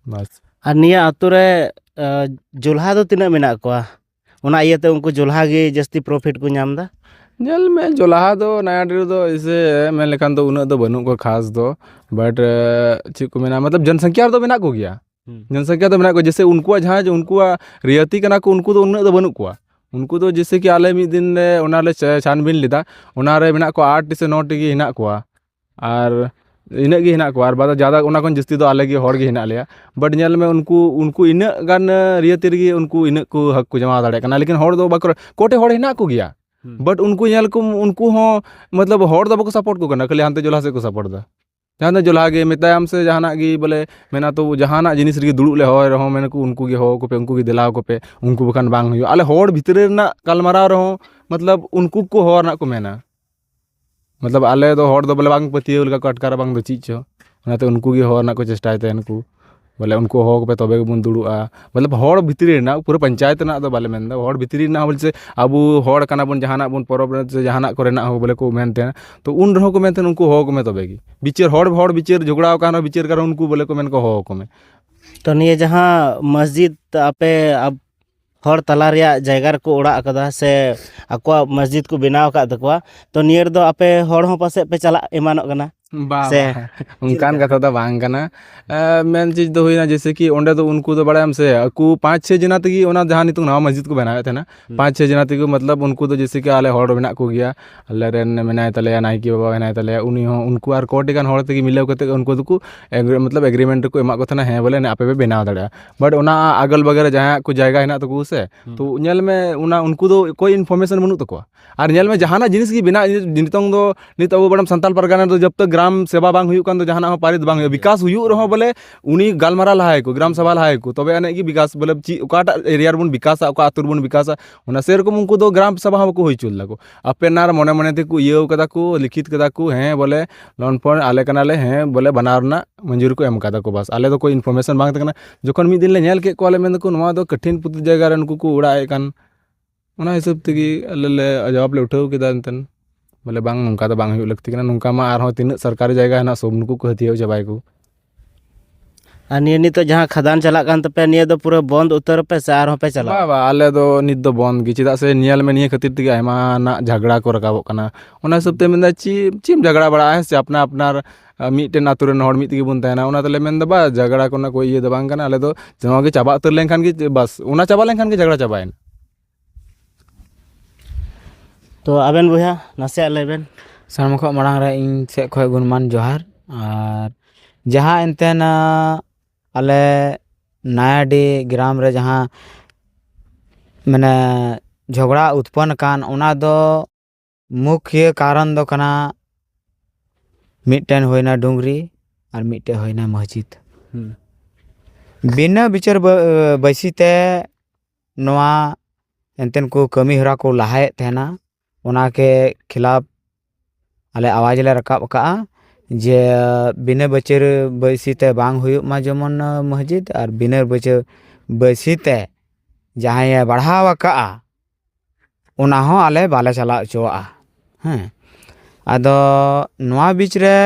ᱵᱟᱥ ᱟᱨ ᱱᱤᱭᱟᱹ ᱟᱹᱛᱩ ᱨᱮ ᱡᱚᱞᱦᱟ ᱫᱚ ᱛᱤᱱᱟᱹᱜ ᱢᱮᱱᱟᱜ ᱠᱚᱣᱟ ᱚᱱᱟ ᱤᱭᱟᱹᱛᱮ ᱩᱱᱠᱩ ᱡᱚᱞᱦᱟ ᱜᱮ ᱡᱟᱹᱥᱛᱤ ᱯᱨᱚᱯᱷᱤᱴ ᱠᱚ ᱧᱟᱢ ᱮᱫᱟ ᱧᱮᱞ ᱢᱮ ᱡᱚᱞᱦᱟ ᱫᱚ ᱱᱟᱭᱟᱴᱤ ᱨᱮᱫᱚ ᱮᱭᱥᱮ ᱢᱮᱱ ᱞᱮᱠᱷᱟᱱ ᱫᱚ ᱩᱱᱟᱹᱜ ᱫᱚ ᱵᱟᱹᱱᱩᱜ ᱠᱚᱣᱟ ᱠᱷᱟᱥ ᱫᱚ ᱵᱟᱴ ᱪᱮᱫ ᱠᱚ ᱢᱮᱱᱟ ᱢᱚᱛᱞᱚᱵ ᱡᱚᱱ ᱥᱚᱝᱠᱷᱟ ᱨᱮᱫᱚ ᱢᱮᱱᱟᱜ ᱠᱚᱜᱮᱭᱟ ᱡᱚᱱ ᱥᱚᱝᱠᱷᱟ ᱫᱚ ᱢᱮᱱᱟᱜ ᱠᱚᱣᱟ ᱡᱮᱭᱥᱮ ᱩᱱᱠᱩᱣᱟᱜ ᱡᱟᱦᱟᱸ ᱩᱱᱠᱩᱣᱟᱜ ᱨᱤᱭᱟᱛᱤ ᱠᱟᱱᱟ ᱠᱚ ᱩᱱᱠᱩ ᱫᱚ ᱩᱱᱟᱹᱜ ᱫᱚ ᱵᱟᱹᱱᱩᱜ ᱠᱚᱣᱟ ᱩᱱᱠᱩ ᱫᱚ ᱡᱮᱭᱥᱮ ᱠᱤ ᱟᱞᱮ ᱢᱤᱫ ᱫᱤᱱ ᱞᱮ ᱚᱱᱟ ᱞᱮ ᱪᱷᱟᱱᱵᱤᱱ ᱞᱮᱫᱟ ᱚᱱᱟᱨᱮ ᱢᱮᱱᱟᱜ ᱠᱚᱣᱟ ᱟᱴ ᱴᱤ ᱥᱮ ᱱᱚ ᱴᱤ ᱜᱮ ᱦᱮᱱᱟᱜ ᱠᱚᱣᱟ ᱟᱨ ᱤᱱᱟᱹᱜ ᱜᱮ ᱦᱮᱱᱟᱜ ᱠᱚᱣᱟ ᱟᱨ ᱵᱟᱫᱮ ᱡᱟᱫᱟ ᱚᱱᱟ ᱠᱷᱚᱱ ᱡᱟᱹᱥᱛᱤ ᱫᱚ ᱟᱞᱮ ᱜᱮ ᱦᱚᱲ ᱜᱮ ᱦᱮᱱᱟᱜ ᱞᱮᱭᱟ ᱵᱟᱴ ᱧᱮᱞ ᱢᱮ ᱩᱱᱠᱩ ᱩᱱᱠᱩ ᱤᱱᱟᱹᱜ ᱜᱟᱱ ᱨᱤᱭᱟᱹᱛᱤ ᱨᱮᱜᱮ ᱩᱱᱠᱩ ᱤᱱᱟᱹᱜ ᱠᱚ ᱦᱟᱹᱠᱩ ᱠᱚ ᱡᱟᱢᱟ ᱫᱟᱲᱮᱭᱟᱜ ᱠᱟᱱᱟ ᱞᱮᱠᱤᱱ ᱦᱚᱲ ᱫᱚ ᱵᱟᱠᱚ ᱠᱚᱴᱮᱡ ᱦᱚᱲ ᱦᱮᱱᱟᱜ ᱠᱚᱜᱮᱭᱟ ᱵᱟᱴ ᱩᱱᱠᱩ ᱧᱮᱞ ᱠᱚᱢ ᱩᱱᱠᱩ ᱦᱚᱸ ᱢᱚᱛᱞᱚᱵ ᱦᱚᱲ ᱫᱚ ᱵᱟᱠᱚ ᱥᱟᱯᱳᱨᱴ ᱠᱚ ᱠᱟᱱᱟ ᱠᱷᱟᱹᱞᱤ ᱦᱟᱱᱛᱮ ᱡᱚᱞᱟ ᱥᱮᱫ ᱠᱚ ᱥᱟᱯᱳᱨᱴ ᱫᱟ ᱡᱟᱦᱟᱸ ᱫᱚ ᱡᱚᱞᱟ ᱜᱮ ᱢᱮᱛᱟᱭᱟᱢ ᱥᱮ ᱡᱟᱦᱟᱱᱟᱜ ᱜᱮ ᱵᱚᱞᱮ ᱢᱮᱱᱟ ᱛᱚ ᱡᱟᱦᱟᱱᱟᱜ ᱡᱤᱱᱤᱥ ᱨᱮᱜᱮ ᱫᱩᱲᱩᱵ ᱞᱮ ᱦᱚᱦᱚᱭ ᱨᱮᱦᱚᱸ ᱢᱮᱱᱟᱠᱚ ᱩᱱᱠᱩ ᱜᱮ ᱦᱚᱦᱚᱣ ᱠᱚᱯᱮ ᱩᱱᱠᱩ ᱜᱮ ᱫᱮᱞᱟ ᱟᱠᱚ ᱯᱮ ᱩᱱᱠᱩ ᱵᱟᱠᱷᱟᱱ ᱵᱟᱝ ᱦᱩᱭᱩᱜᱼᱟ ᱟᱞᱮ ᱦᱚᱲ ᱵᱷᱤᱛᱨᱤ ᱨᱮᱱᱟᱜ ᱜᱟᱞᱢᱟᱨᱟᱣ ᱨᱮᱦᱚᱸ ᱢᱚᱛᱞᱚᱵ ᱩᱱᱠᱩ ᱠᱚ ᱦᱚᱦᱚ ᱨᱮᱱᱟᱜ ᱠᱚ ᱢᱮᱱᱟ ᱢᱚᱛᱞᱚᱵ ᱟᱞᱮ ᱫᱚ ᱦᱚᱲ ᱫᱚ ᱵᱚᱞᱮ ᱵᱟᱝ ᱯᱟᱹᱛᱭᱟᱹᱣ ᱞᱮᱠᱟ ᱠᱚ ᱟᱴᱠᱟᱨᱟ ᱵᱟᱝ ᱫᱚ ᱪᱮᱫ ᱪᱚ ᱚᱱᱟᱛᱮ ᱩᱱᱠᱩ ᱜᱮ ᱦᱚᱦᱚ ᱨᱮᱱᱟᱜ ᱠᱚ ᱪᱮᱥᱴᱟᱭ ᱛᱟᱦᱮᱱ ᱠᱚ ᱵᱚᱞᱮ ᱩᱱᱠᱩ ᱦᱚᱦᱚ ᱠᱚᱯᱮ ᱛᱚᱵᱮ ᱜᱮᱵᱚᱱ ᱫᱩᱲᱩᱵᱼᱟ ᱢᱚᱛᱞᱚᱵ ᱦᱚᱲ ᱵᱷᱤᱛᱨᱤ ᱨᱮᱱᱟᱜ ᱯᱩᱨᱟᱹ ᱯᱚᱧᱪᱟᱭᱮᱛ ᱨᱮᱱᱟᱜ ᱫᱚ ᱵᱟᱞᱮ ᱢᱮᱱᱫᱟ ᱦᱚᱲ ᱵᱷᱤᱛᱨᱤ ᱨᱮᱱᱟᱜ ᱦᱚᱸ ᱵᱚᱞᱮ ᱟᱵᱚ ᱦᱚᱲ ᱠᱟᱱᱟ ᱵᱚᱱ ᱡᱟᱦᱟᱱᱟᱜ ᱵᱚᱱ ᱯᱚᱨᱚᱵᱽ ᱨᱮ ᱥᱮ ᱡᱟᱦᱟᱱᱟᱜ ᱠᱚᱨᱮᱱᱟᱜ ᱦᱚᱸ ᱵᱚᱞᱮ ᱠᱚ ᱢᱮᱱ ᱛᱟᱦᱮᱱᱟ ᱛᱚ ᱩᱱ ᱨᱮᱦᱚᱸ ᱠᱚ ᱢᱮᱱ ᱛᱟᱦᱮᱱᱟ ᱩᱱᱠᱩ ᱦᱚᱦᱚ ᱠᱚᱢᱮ ᱛᱚᱵᱮ ᱜᱮ ᱵᱤᱪᱟᱹᱨ ᱦᱚᱲ ᱦᱚᱲ ᱵᱤᱪᱟᱹᱨ ᱡᱷᱚᱜᱽᱲᱟᱣ ᱠᱟᱱ ᱨᱮᱦᱚᱸ ᱵᱤᱪᱟᱹᱨ ᱠᱟᱱ ᱨᱮᱦᱚᱸ ᱩᱱᱠᱩ ᱵᱚᱞᱮ ᱠᱚ ᱢᱮᱱ ᱠᱚ ᱦᱚᱦᱚ ᱠᱚᱢᱮ ᱛᱚ ᱱᱤᱭᱟᱹ ᱡᱟᱦᱟᱸ ᱢᱚᱥᱡᱤᱫᱽ ᱟᱯᱮ ᱦᱚᱲ ᱛᱟᱞᱟ ᱨᱮᱭᱟᱜ ᱡᱟᱭᱜᱟ ᱨᱮᱠᱚ ᱚᱲᱟᱜ ᱟᱠᱟᱫᱟ ᱥᱮ ᱟᱠᱚᱣᱟᱜ ᱢᱚᱥᱡᱤᱫ ᱠᱚ ᱵᱮᱱᱟᱣ ᱟᱠᱟᱫ ᱛᱟᱠᱚᱣᱟ ᱛᱚ ᱱᱤᱭᱟᱹ ᱨᱮᱫᱚ ᱟᱯᱮ ᱦᱚᱲ ᱦᱚᱸ ᱯᱟᱥᱮᱡ ᱯᱮ ᱪᱟᱞᱟᱜ ᱮᱢᱟᱱᱚᱜ ᱠᱟᱱᱟ ᱵᱟ ᱥᱮ ᱵᱟ ᱚᱱᱠᱟᱱ ᱠᱟᱛᱷᱟ ᱫᱚ ᱵᱟᱝ ᱠᱟᱱᱟ ᱮᱸ ᱢᱮᱱ ᱪᱤᱡᱽ ᱫᱚ ᱦᱩᱭᱱᱟ ᱡᱮᱭᱥᱮ ᱠᱤ ᱚᱸᱰᱮ ᱫᱚ ᱩᱱᱠᱩ ᱫᱚ ᱵᱟᱲᱟᱭᱟᱢ ᱥᱮ ᱟᱠᱚ ᱯᱟᱸᱪ ᱪᱷᱚ ᱡᱚᱱᱟ ᱛᱮᱜᱮ ᱚᱱᱟ ᱡᱟᱦᱟᱸ ᱱᱤᱛᱚᱜ ᱱᱟᱣᱟ ᱢᱚᱥᱡᱤᱫ ᱠᱚ ᱵᱮᱱᱟᱣᱮᱫ ᱛᱟᱦᱮᱱᱟ ᱯᱟᱸᱪ ᱪᱷᱚ ᱡᱚᱱᱟ ᱛᱮᱜᱮ ᱢᱚᱛᱞᱚᱵ ᱩᱱᱠᱩ ᱫᱚ ᱡᱮᱭᱥᱮ ᱠᱤ ᱟᱞᱮ ᱦᱚᱲ ᱢᱮᱱᱟᱜ ᱠᱚᱜᱮᱭᱟ ᱟᱞᱮ ᱨᱮᱱ ᱢᱮᱱᱟᱭ ᱛᱟᱞᱮᱭᱟ ᱱᱟᱭᱠᱮ ᱵᱟᱵᱟ ᱢᱮᱱᱟᱭ ᱛᱟᱞᱮᱭᱟ ᱩᱱᱤ ᱦᱚᱸ ᱩᱱᱠᱩ ᱟᱨ ᱠᱚᱴᱤ ᱜᱟᱱ ᱦᱚᱲ ᱛᱮᱜᱮ ᱢᱤᱞᱟᱹᱣ ᱠᱟᱛᱮᱫ ᱩᱱᱠᱩ ᱫᱚᱠᱚ ᱮᱜᱽᱨᱤ ᱢᱚᱛᱞᱚᱵ ᱮᱜᱽᱨᱤᱢᱮᱱᱴ ᱨᱮᱠᱚ ᱮᱢᱟᱫ ᱠᱚ ᱛᱟᱦᱮᱱᱟ ᱦᱮᱸ ᱵᱚᱞᱮ ᱟᱯᱮ ᱯᱮ ᱵᱮᱱᱟᱣ ᱫᱟᱲᱮᱭᱟᱜᱼᱟ ᱵᱟᱴ ᱚᱱᱟ ᱟᱜᱚᱞ ᱵᱟᱜᱟᱞ ᱨᱮ ᱡᱟᱦᱟᱸᱭᱟᱜ ᱠᱚ ᱡᱟᱭᱜᱟ ᱦᱮᱱᱟᱜ ᱛᱟᱠᱚ ᱥᱮ ᱛᱚ ᱧᱮᱞ ᱢᱮ ᱚᱱᱟ ᱩᱱᱠᱩ ᱫᱚ ᱠᱳᱭ ᱤᱱᱯᱷᱚᱨᱢᱮᱥᱚᱱ ᱵᱟᱹᱱᱩᱜ ᱛᱟᱠᱚᱣᱟ ᱟᱨ ᱧᱮᱞ ᱢᱮ ᱡᱟᱦᱟᱱᱟᱜ ᱡᱤᱱᱤᱥ ᱜᱮ ᱵᱮᱱᱟᱜ ᱱᱤᱛᱚᱝ ᱫᱚ ᱱᱤᱛ ᱟᱵᱚ ᱵᱚᱨᱚᱝ ᱥᱟᱱᱛᱟᱲ ᱯᱟᱨᱜᱟᱱᱟ ᱨᱮᱫᱚ ᱡᱚᱵᱽ ᱛᱚᱠ ᱜᱨᱟᱢ ᱥᱮᱵᱟ ᱵᱟᱝ ᱦᱩᱭᱩᱜ ᱠᱟᱱ ᱫᱚ ᱡᱟᱦᱟᱱᱟᱜ ᱦᱚᱸ ᱯᱟᱹᱨᱤᱛ ᱵᱟᱝ ᱦᱩᱭᱩᱜᱼᱟ ᱵᱤᱠᱟᱥ ᱦᱩᱭᱩᱜ ᱨᱮᱦᱚᱸ ᱵᱚᱞᱮ ᱩᱱᱤ ᱜᱟᱞᱢᱟᱨᱟᱣ ᱞᱟᱦᱟᱭᱮᱠᱚ ᱜᱨᱟᱢ ᱥᱚᱵᱷᱟ ᱞᱟᱦᱟᱭᱮᱠᱚ ᱛᱚᱵᱮ ᱟᱹᱱᱤᱡ ᱜᱮ ᱵᱤᱠᱟᱥ ᱵᱚᱞᱮ ᱪᱮᱫ ᱚᱠᱟᱴᱟᱜ ᱮᱨᱤᱭᱟ ᱨᱮᱵᱚᱱ ᱵᱤᱠᱟᱥᱟ ᱚᱠᱟ ᱟᱹᱛᱩ ᱨᱮᱵᱚᱱ ᱵᱤᱠᱟᱥᱟ ᱚᱱᱟ ᱥᱮᱨᱚᱠᱚᱢ ᱩᱱᱠᱩ ᱫᱚ ᱜᱨᱟᱢ ᱥᱚᱵᱷᱟ ᱦᱚᱸ ᱵᱟᱠᱚ ᱦᱩᱭ ᱦᱚᱪᱚ ᱞᱮᱫᱟ ᱠᱚ ᱟᱯᱮᱱᱟᱨ ᱢᱚᱱᱮ ᱢᱚᱱᱮ ᱛᱮᱠᱚ ᱤᱭᱟᱹᱣ ᱠᱟᱫᱟ ᱠᱚ ᱞᱤᱠᱷᱤᱛ ᱠᱟᱫᱟ ᱠᱚ ᱦᱮᱸ ᱵᱚᱞᱮ ᱞᱳᱱ ᱯᱷᱳᱱ ᱟᱞᱮ ᱠᱟᱱᱟᱞᱮ ᱦᱮᱸ ᱵᱚᱞᱮ ᱵᱟᱱᱟᱣ ᱨᱮᱱᱟᱜ ᱢᱚᱧᱡᱩᱨ ᱠᱚ ᱮᱢ ᱠᱟᱫᱟ ᱠᱚ ᱵᱟᱥ ᱟᱞᱮ ᱫᱚ ᱠᱳᱭ ᱤᱱᱯᱷᱚᱨᱢᱮᱥᱚᱱ ᱵᱟᱝ ᱛᱟᱦᱮᱸ ᱠᱟᱱᱟ ᱡᱚᱠᱷᱚᱱ ᱢᱤᱫ ᱫᱤᱱ ᱞᱮ ᱧᱮᱞ ᱠᱮᱫ ᱠᱚᱣᱟᱞᱮ ᱢᱮᱱ ᱫᱟᱠᱚ ᱱᱚᱣᱟ ᱫᱚ ᱠᱚᱴᱷᱤᱱ ᱯᱨᱚᱛᱤ ᱡᱟᱭᱜᱟ ᱨᱮ ᱱᱩᱠᱩ ᱠᱚ ᱚᱲᱟᱜ ᱮᱜ ᱠᱟᱱ ᱚᱱᱟ ᱦᱤᱥᱟᱹᱵ ᱛᱮᱜᱮ ᱟᱞᱮ ᱞᱮ ᱡᱟᱣᱟᱯ ᱞᱮ ᱩᱴᱷᱟᱹᱣ ᱠᱮᱫᱟ ᱮᱱᱛᱮ ᱵᱚᱞᱮ ᱵᱟᱝ ᱱᱚᱝᱠᱟ ᱫᱚ ᱵᱟᱝ ᱦᱩᱭᱩᱜ ᱞᱟᱹᱠᱛᱤ ᱠᱟᱱᱟ ᱱᱚᱝᱠᱟ ᱢᱟ ᱟᱨᱦᱚᱸ ᱛᱤᱱᱟᱹᱜ ᱥᱚᱨᱠᱟᱨᱤ ᱡᱟᱭᱜᱟ ᱦᱮᱱᱟᱜ ᱥᱚᱵ ᱱᱩᱠᱩ ᱠᱚ ᱦᱟᱹᱛᱭᱟᱹᱣ ᱪᱟᱵᱟᱭᱟᱠᱚ ᱟᱨ ᱱᱤᱭᱟᱹ ᱱᱤᱛᱚᱜ ᱡᱟᱦᱟᱸ ᱠᱷᱟᱫᱟᱱ ᱪᱟᱞᱟᱜ ᱠᱟᱱ ᱛᱟᱯᱮᱭᱟ ᱱᱤᱭᱟᱹ ᱫᱚ ᱯᱩᱨᱟᱹ ᱵᱚᱱᱫ ᱩᱛᱟᱹᱨ ᱟᱯᱮ ᱥᱮ ᱟᱨᱦᱚᱸ ᱯᱮ ᱪᱟᱞᱟᱜᱼᱟ ᱵᱟ ᱵᱟ ᱟᱞᱮ ᱫᱚ ᱱᱤᱛ ᱫᱚ ᱵᱚᱱᱫ ᱜᱮ ᱪᱮᱫᱟᱜ ᱥᱮ ᱧᱮᱞ ᱢᱮ ᱱᱤᱭᱟᱹ ᱠᱷᱟᱹᱛᱤᱨ ᱛᱮᱜᱮ ᱟᱭᱢᱟ ᱱᱟᱜ ᱡᱷᱟᱜᱽᱲᱟ ᱠᱚ ᱨᱟᱠᱟᱵᱚᱜ ᱠᱟᱱᱟ ᱚᱱᱟ ᱦᱤᱥᱟᱹᱵ ᱛᱮ ᱢᱮᱱᱫᱟ ᱪᱮᱫ ᱪᱮᱫ ᱮᱢ ᱡᱷᱟᱜᱽᱲᱟ ᱵᱟᱲᱟᱜᱼᱟ ᱦᱮᱸ ᱥᱮ ᱟᱯᱱᱟ ᱟᱯᱱᱟᱨ ᱢᱤᱫᱴᱮᱱ ᱟᱛᱳ ᱨᱮᱱ ᱦᱚᱲ ᱢᱤᱫ ᱛᱮᱜᱮ ᱵᱚᱱ ᱛᱟᱦᱮᱱᱟ ᱚᱱᱟ ᱛᱮᱞᱮ ᱢᱮᱱᱫᱟ ᱵᱟ ᱡᱷᱟᱜᱽᱲᱟ ᱠᱚᱨᱮᱱᱟᱜ ᱠᱳᱭ ᱤᱭᱟᱹ ᱫᱚ ᱵᱟᱝ ᱠᱟᱱᱟ ᱟᱞᱮ ᱫᱚ ᱱᱚᱣᱟ ᱜᱮ ᱪᱟᱵᱟ ᱩᱛᱟᱹᱨ ᱞᱮᱱᱠᱷᱟᱱ ᱜᱮ ᱵᱟᱥ ᱚᱱᱟ ᱪᱟᱵᱟ ᱞᱮᱱᱠᱷᱟᱱ ᱜᱮ ᱡᱷᱟᱜᱽᱲᱟ ᱪᱟᱵᱟᱭᱮᱱᱟ ᱛᱚ ᱟᱵᱮᱱ ᱵᱚᱭᱦᱟ ᱱᱟᱥᱮᱭᱟᱜ ᱞᱟᱹᱭ ᱵᱮᱱ ᱥᱟᱱᱟᱢ ᱠᱷᱚᱱ ᱢᱟᱲᱟᱝ ᱨᱮ ᱤᱧ ᱥᱮᱫ ᱠᱷᱚᱱ ᱜᱩᱱᱢᱟᱱ ᱡᱚᱦᱟᱨ ᱟᱨ ᱡᱟᱦᱟᱸ ᱮᱱᱛᱮ ᱟᱞᱮ ᱱᱟᱭᱟᱰᱤ ᱜᱨᱟᱢ ᱨᱮ ᱡᱟᱦᱟᱸ ᱢᱟᱱᱮ ᱡᱷᱚᱜᱽᱲᱟ ᱩᱛᱯᱚᱱᱱᱚ ᱟᱠᱟᱱ ᱚᱱᱟ ᱫᱚ ᱢᱩᱠᱷᱤᱭᱟᱹ ᱠᱟᱨᱚᱱ ᱫᱚ ᱠᱟᱱᱟ ᱢᱤᱫᱴᱮᱱ ᱦᱩᱭᱱᱟ ᱰᱩᱝᱨᱤ ᱟᱨ ᱢᱤᱫᱴᱮᱱ ᱦᱩᱭᱱᱟ ᱢᱚᱥᱡᱤᱫ ᱵᱤᱱᱟᱹ ᱵᱤᱪᱟᱹᱨ ᱵᱟᱹᱭᱥᱤ ᱛᱮ ᱱᱚᱣᱟ ᱮᱱᱛᱮᱱ ᱠᱚ ᱠᱟᱹᱢᱤ ᱦᱚᱨᱟ ᱠᱚ ᱞᱟᱦᱟᱭᱮᱫ ᱛᱟᱦᱮᱱᱟ ᱚᱱᱟ ᱠᱮ ᱠᱷᱤᱞᱟᱯ ᱟᱞᱮ ᱟᱣᱟᱡᱽ ᱞᱮ ᱨᱟᱠᱟᱵ ᱟᱠᱟᱫᱼᱟ ᱡᱮ ᱵᱤᱱᱟᱹ ᱵᱤᱪᱟᱹᱨ ᱵᱟᱹᱭᱥᱤ ᱛᱮ ᱵᱟᱝ ᱦᱩᱭᱩᱜ ᱢᱟ ᱡᱮᱢᱚᱱ ᱢᱚᱥᱡᱤᱫ ᱟᱨ ᱵᱤᱱᱟᱹ ᱵᱤᱪᱟᱹᱨ ᱵᱟᱹᱭᱥᱤ ᱛᱮ ᱡᱟᱦᱟᱸᱭᱮ ᱵᱟᱲᱦᱟᱣ ᱟᱠᱟᱫᱼᱟ ᱚᱱᱟ ᱦᱚᱸ ᱟᱞᱮ ᱵᱟᱞᱮ ᱪᱟᱞᱟᱣ ᱦᱚᱪᱚᱣᱟᱜᱼᱟ ᱦᱮᱸ ᱟᱫᱚ ᱱᱚᱣᱟ ᱵᱤᱪ ᱨᱮ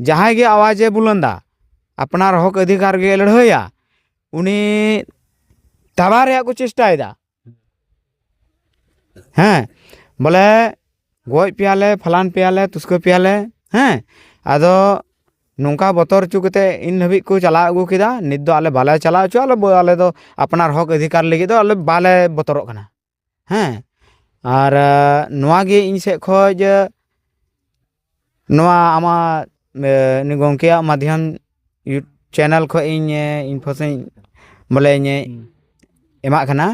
ᱡᱟᱦᱟᱸᱭ ᱜᱮ ᱟᱣᱟᱡᱮ ᱵᱩᱞᱚᱱᱫᱟ ᱟᱯᱱᱟᱨ ᱦᱚᱸᱠ ᱚᱫᱷᱤᱠᱟᱨ ᱜᱮ ᱞᱟᱹᱲᱦᱟᱹᱭᱟ ᱩᱱᱤ ᱛᱟᱲᱟ ᱨᱮᱭᱟᱜ ᱠᱚ ᱪᱮᱥᱴᱟᱭᱮᱫᱟ ᱦᱮᱸ ᱵᱚᱞᱮ ᱜᱚᱡ ᱯᱮᱭᱟᱞᱮ ᱯᱷᱟᱞᱟᱱ ᱯᱮᱭᱟᱞᱮ ᱛᱩᱥᱠᱟᱹ ᱯᱮᱭᱟᱞᱮ ᱦᱮᱸ ᱟᱫᱚ ᱱᱚᱝᱠᱟ ᱵᱚᱛᱚᱨ ᱦᱚᱪᱚ ᱠᱟᱛᱮ ᱤᱱ ᱫᱷᱟᱹᱵᱤᱡ ᱠᱚ ᱪᱟᱞᱟᱣ ᱟᱹᱜᱩ ᱠᱮᱫᱟ ᱱᱤᱛ ᱫᱚ ᱟᱞᱮ ᱵᱟᱞᱮ ᱪᱟᱞᱟᱣ ᱦᱚᱪᱚᱣᱟᱜᱼᱟ ᱟᱞᱮ ᱫᱚ ᱟᱯᱱᱟᱨ ᱦᱚᱸᱠ ᱚᱫᱷᱤᱠᱟᱨ ᱞᱟᱹᱜᱤᱫ ᱫᱚ ᱟᱞᱮ ᱵᱟᱞᱮ ᱵᱚᱛᱚᱨᱚᱜ ᱠᱟᱱᱟ ᱦᱮᱸ ᱟᱨ ᱱᱚᱣᱟᱜᱮ ᱤᱧ ᱥᱮᱡ ᱠᱷᱚᱡ ᱱᱚᱣᱟ ᱟᱢᱟᱜ ᱱᱩᱭ ᱜᱚᱢᱠᱮᱭᱟᱜ ᱢᱟᱫᱽᱫᱷᱚᱢ ᱪᱮᱱᱮᱞ ᱠᱷᱚᱡ ᱤᱧ ᱤᱱᱯᱷᱳᱥᱮᱱ ᱵᱚᱞᱮ ᱤᱧᱮ ᱮᱢᱟᱜ ᱠᱟᱱᱟ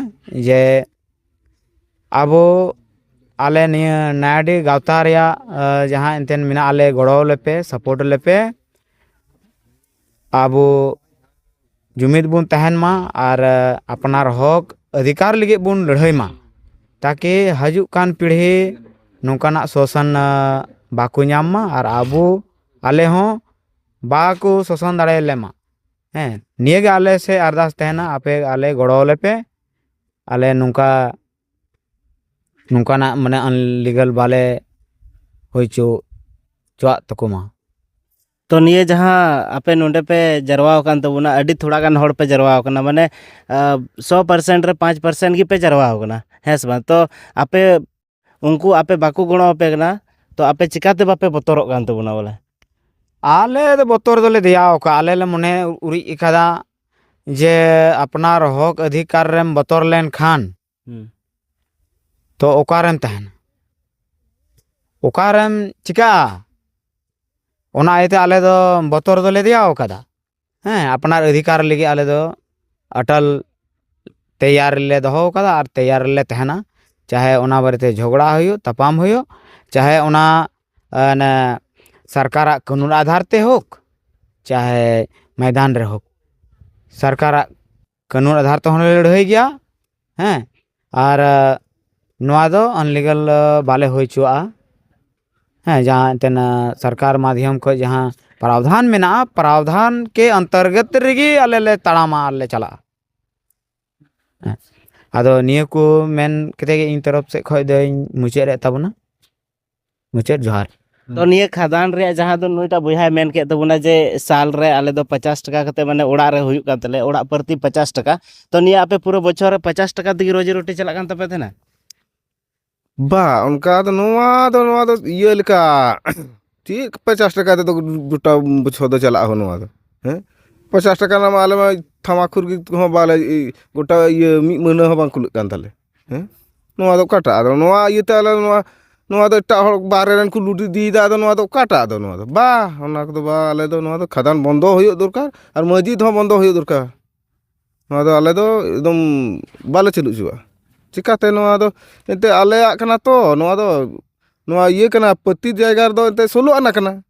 ᱡᱮ ᱟᱵᱚ ᱟᱞᱮ ᱱᱤᱭᱟᱹ ᱱᱟᱭᱟᱰᱤ ᱜᱟᱶᱛᱟ ᱨᱮᱭᱟᱜ ᱡᱟᱦᱟᱸ ᱮᱱᱛᱮᱫ ᱢᱮᱱᱟᱜ ᱞᱮ ᱜᱚᱲᱚᱣᱟᱞᱮᱯᱮ ᱥᱟᱯᱳᱨᱴ ᱟᱞᱮᱯᱮ ᱟᱵᱚ ᱡᱩᱢᱤᱫ ᱵᱚᱱ ᱛᱟᱦᱮᱱ ᱢᱟ ᱟᱨ ᱟᱯᱱᱟᱨ ᱦᱚᱸᱠ ᱚᱫᱷᱤᱠᱟᱨ ᱞᱟᱹᱜᱤᱫ ᱵᱚᱱ ᱞᱟᱹᱲᱦᱟᱹᱭ ᱢᱟ ᱛᱟᱠᱤ ᱦᱤᱡᱩᱜ ᱠᱟᱱ ᱯᱤᱲᱦᱤ ᱱᱚᱝᱠᱟᱱᱟᱜ ᱥᱳᱥᱟᱱ ᱵᱟᱠᱚ ᱧᱟᱢ ᱢᱟ ᱟᱨ ᱟᱵᱚ ᱟᱞᱮ ᱦᱚᱸ ᱵᱟᱠᱚ ᱥᱳᱥᱟᱱ ᱫᱟᱲᱮ ᱟᱞᱮ ᱢᱟ ᱦᱮᱸ ᱱᱤᱭᱟᱹ ᱜᱮ ᱟᱞᱮ ᱥᱮᱫ ᱟᱨᱫᱟᱥ ᱛᱟᱦᱮᱱᱟ ᱟᱯᱮ ᱟᱞᱮ ᱜᱚᱲᱚ ᱟᱞᱮ ᱯᱮ ᱟᱞᱮ ᱱᱚᱝᱠᱟ ᱱᱚᱝᱠᱟᱱᱟᱜ ᱢᱟᱱᱮ ᱟᱱᱞᱤᱜᱟᱞ ᱵᱟᱞᱮ ᱦᱩᱭ ᱦᱚᱪᱚ ᱦᱚᱪᱚᱣᱟᱜ ᱛᱟᱠᱚ ᱢᱟ ᱛᱚ ᱱᱤᱭᱟᱹ ᱡᱟᱦᱟᱸ ᱟᱯᱮ ᱱᱚᱰᱮ ᱯᱮ ᱡᱟᱨᱣᱟ ᱟᱠᱟᱱ ᱛᱟᱵᱚᱱᱟ ᱟᱹᱰᱤ ᱛᱷᱚᱲᱟ ᱜᱟᱱ ᱦᱚᱲ ᱯᱮ ᱡᱟᱨᱣᱟ ᱟᱠᱟᱱᱟ ᱢᱟᱱᱮ ᱥᱚ ᱯᱟᱨᱥᱮᱱᱴ ᱨᱮ ᱯᱟᱸᱪ ᱯᱟᱨᱥᱮᱱᱴ ᱜᱮᱯᱮ ᱡᱟᱨᱣᱟ ᱟᱠᱟᱱᱟ ᱦᱮᱸ ᱥᱮ ᱵᱟᱝ ᱛᱚ ᱟᱯᱮ ᱩᱱᱠᱩ ᱟᱯᱮ ᱵᱟᱠᱚ ᱜᱚᱲᱚ ᱟᱯᱮ ᱠᱟᱱᱟ ᱛᱚ ᱟᱯᱮ ᱪᱤᱠᱟᱹᱛᱮ ᱵᱟᱯᱮ ᱵᱚᱛᱚᱨᱚᱜ ᱠᱟᱱ ᱛᱟᱵᱚᱱᱟ ᱵᱚᱞᱮ ᱟᱞᱮ ᱫᱚ ᱵᱚᱛᱚᱨ ᱫᱚᱞᱮ ᱫᱮᱭᱟ ᱟᱠᱟᱫᱼᱟ ᱟᱞᱮ ᱞᱮ ᱢᱚᱱᱮ ᱩᱨᱤᱡ ᱟᱠᱟᱫᱟ ᱡᱮ ᱟᱯᱱᱟᱨ ᱦᱚᱸᱠ ᱚᱫᱷᱤᱠᱟᱨ ᱨᱮᱢ ᱵᱚᱛᱚᱨ ᱞᱮᱱᱠᱷᱟᱱ ᱦᱩᱸ ᱛᱚ ᱚᱠᱟᱨᱮᱢ ᱛᱟᱦᱮᱱᱟ ᱚᱠᱟᱨᱮᱢ ᱪᱤᱠᱟᱹᱜᱼᱟ ᱚᱱᱟ ᱤᱭᱟᱹᱛᱮ ᱟᱞᱮ ᱫᱚ ᱵᱚᱛᱚᱨ ᱫᱚᱞᱮ ᱫᱮᱭᱟ ᱟᱠᱟᱫᱟ ᱦᱮᱸ ᱟᱯᱱᱟᱨ ᱚᱫᱷᱤᱠᱟᱨ ᱞᱟᱹᱜᱤᱫ ᱟᱞᱮ ᱫᱚ ᱟᱴᱚᱞ ᱛᱮᱭᱟᱨ ᱨᱮᱞᱮ ᱫᱚᱦᱚ ᱟᱠᱟᱫᱟ ᱟᱨ ᱛᱮᱭᱟᱨ ᱨᱮᱞᱮ ᱛᱟᱦᱮᱱᱟ ᱪᱟᱦᱮ ᱚᱱᱟ ᱵᱟᱨᱮᱛᱮ ᱡᱷᱚᱜᱽᱲᱟ ᱦᱩᱭᱩᱜ ᱛᱟᱯᱟᱢ ᱦᱩᱭᱩᱜ ᱪᱟᱦᱮ ᱚᱱᱟ ᱚᱱᱮ ᱥᱚᱨᱠᱟᱨᱟᱜ ᱠᱟᱹᱱᱩᱱ ᱟᱫᱷᱟᱨ ᱛᱮ ᱦᱳᱠ ᱪᱟᱦᱮ ᱢᱚᱭᱫᱟᱱ ᱨᱮ ᱦᱳᱠ ᱥᱚᱨᱠᱟᱨᱟᱜ ᱠᱟᱹᱱᱩᱱ ᱟᱫᱷᱟᱨ ᱛᱮᱦᱚᱸ ᱞᱮ ᱞᱟᱹᱲᱦᱟᱹᱭ ᱜᱮᱭᱟ ᱦᱮᱸ ᱟᱨ ᱱᱚᱣᱟ ᱫᱚ ᱟᱱᱞᱤᱜᱟᱞ ᱵᱟᱞᱮ ᱦᱩᱭ ᱦᱚᱪᱚᱣᱟᱜᱼᱟ ᱦᱮᱸ ᱡᱟᱦᱟᱸ ᱮᱱᱛᱮᱫ ᱥᱚᱨᱠᱟᱨ ᱢᱟᱫᱽᱫᱷᱚᱢ ᱠᱷᱚᱱ ᱡᱟᱦᱟᱸ ᱯᱨᱟᱣᱫᱷᱟᱱ ᱢᱮᱱᱟᱜᱼᱟ ᱯᱨᱟᱣᱫᱷᱟᱱ ᱠᱮ ᱚᱱᱛᱚᱨᱜᱚᱛ ᱨᱮᱜᱮ ᱟᱞᱮ ᱞᱮ ᱛᱟᱲᱟᱢᱟ ᱟᱨ ᱞᱮ ᱪᱟᱞᱟᱜᱼᱟ ᱦᱮᱸ ᱟᱫᱚ ᱱᱤᱭᱟᱹ ᱠᱚ ᱢᱮᱱ ᱠᱟᱛᱮᱫ ᱜᱮ ᱤᱧ ᱛᱚᱨᱚᱯᱷ ᱥᱮᱫ ᱠᱷᱚᱱ ᱫᱚᱧ ᱢᱩᱪᱟᱹᱫ ᱮᱫ ᱛᱟᱵᱚᱱᱟ ᱢᱩᱪᱟᱹᱫ ᱡᱚᱦᱟᱨ ᱛᱚ ᱱᱤᱭᱟᱹ ᱠᱷᱟᱫᱟᱱ ᱨᱮᱭᱟᱜ ᱡᱟᱦᱟᱸ ᱫᱚ ᱱᱩᱭᱴᱟᱜ ᱵᱚᱭᱦᱟᱭ ᱢᱮᱱ ᱠᱮᱫ ᱛᱟᱵᱚᱱᱟ ᱡᱮ ᱥᱟᱞ ᱨᱮ ᱟᱞᱮ ᱫᱚ ᱯᱟᱪᱟᱥ ᱴᱟᱠᱟ ᱠᱟᱛᱮ ᱢᱟᱱᱮ ᱚᱲᱟᱜ ᱨᱮ ᱦᱩᱭᱩᱜ ᱠᱟᱱ ᱛᱟᱞᱮᱭᱟ ᱚᱲᱟᱜ ᱯᱨᱚᱛᱤ ᱯᱟᱪᱟᱥ ᱴᱟᱠᱟ ᱛᱚ ᱱᱤᱭᱟᱹ ᱟᱯᱮ ᱯᱩᱨᱟᱹ ᱵᱚᱪᱷᱚᱨ ᱨᱮ ᱯᱟᱪᱟᱥ ᱴᱟᱠᱟ ᱛᱮᱜᱮ ᱨᱳᱡᱤ ᱨᱩᱴᱤ ᱪᱟᱞᱟᱜ ᱠᱟᱱ ᱛᱟᱯᱮ ᱛᱟᱦᱮᱱᱟ ᱵᱟ ᱚᱱᱠᱟ ᱫᱚ ᱱᱚᱣᱟ ᱫᱚ ᱱᱚᱣᱟ ᱫᱚ ᱤᱭᱟᱹ ᱞᱮᱠᱟ ᱪᱮᱫ ᱯᱟᱪᱟᱥ ᱴᱟᱠᱟ ᱛᱮᱫᱚ ᱜᱚᱴᱟ ᱵᱚᱪᱷᱚᱨ ᱫᱚ ᱪᱟᱞᱟᱜᱼᱟ ᱦᱚᱸ ᱱᱚᱣᱟ ᱫᱚ ᱦᱮᱸ ᱯᱟᱪᱟᱥ ᱴᱟᱠᱟ ᱨᱮᱱᱟᱜ ᱢᱟ ᱟᱞᱮ ᱢᱟ ᱛᱷᱟᱢᱟᱠᱠᱷᱩᱨ ᱜᱮ ᱦᱚᱸ ᱵᱟᱞᱮ ᱜᱚᱴᱟ ᱤᱭᱟᱹ ᱢᱤᱫ ᱢᱟᱹᱦᱱᱟᱹ ᱦᱚᱸ ᱵᱟᱝ ᱠᱩᱞᱟᱹᱜ ᱠᱟᱱ ᱛᱟᱞᱮ ᱦᱮᱸ ᱱᱚᱣᱟ ᱫᱚ ᱚᱠᱟᱴᱟᱜ ᱟᱫᱚ ᱱᱚᱣᱟ ᱤᱭᱟᱹᱛᱮ ᱟᱞᱮ ᱱᱚᱣᱟ ᱱᱚᱣᱟ ᱫᱚ ᱮᱴᱟᱜ ᱦᱚᱲ ᱵᱟᱦᱨᱮ ᱨᱮᱱ ᱠᱚ ᱞᱩᱴ ᱤᱫᱤᱭᱮᱫᱟ ᱟᱫᱚ ᱱᱚᱣᱟ ᱫᱚ ᱚᱠᱟᱴᱟᱜ ᱟᱫᱚ ᱱᱚᱣᱟ ᱫᱚ ᱵᱟᱦ ᱚᱱᱟ ᱠᱚᱫᱚ ᱵᱟᱦ ᱟᱞᱮ ᱫᱚ ᱱᱚᱣᱟ ᱫᱚ ᱠᱷᱟᱫᱟᱱ ᱵᱚᱱᱫᱚ ᱦᱩᱭᱩᱜ ᱫᱚᱨᱠᱟᱨ ᱟᱨ ᱢᱚᱥᱡᱤᱫ ᱦᱚᱸ ᱵᱚᱱᱫᱚ ᱦᱩᱭᱩᱜ ᱫᱚᱨᱠᱟᱨ ᱱᱚᱣᱟ ᱫᱚ ᱟᱞᱮ ᱫᱚ ᱮᱠᱫᱚᱢ ᱵᱟᱞᱮ ᱪᱟᱹᱞᱩ ᱦᱚᱪᱚᱣᱟᱜᱼᱟ ᱪᱤᱠᱟᱹᱛᱮ ᱱᱚᱣᱟ ᱫᱚ ᱮᱱᱛᱮᱫ ᱟᱞᱮᱭᱟᱜ ᱠᱟᱱᱟ ᱛᱚ ᱱᱚᱣᱟ ᱫᱚ ᱱᱚᱣᱟ ᱤᱭᱟᱹ ᱠᱟᱱᱟ ᱯᱟᱹᱛᱤ ᱡᱟᱭᱜᱟ ᱨᱮᱫᱚ ᱮᱱᱛᱮᱫ ᱥᱳᱞᱳ ᱟᱱᱟ ᱠᱟᱱᱟ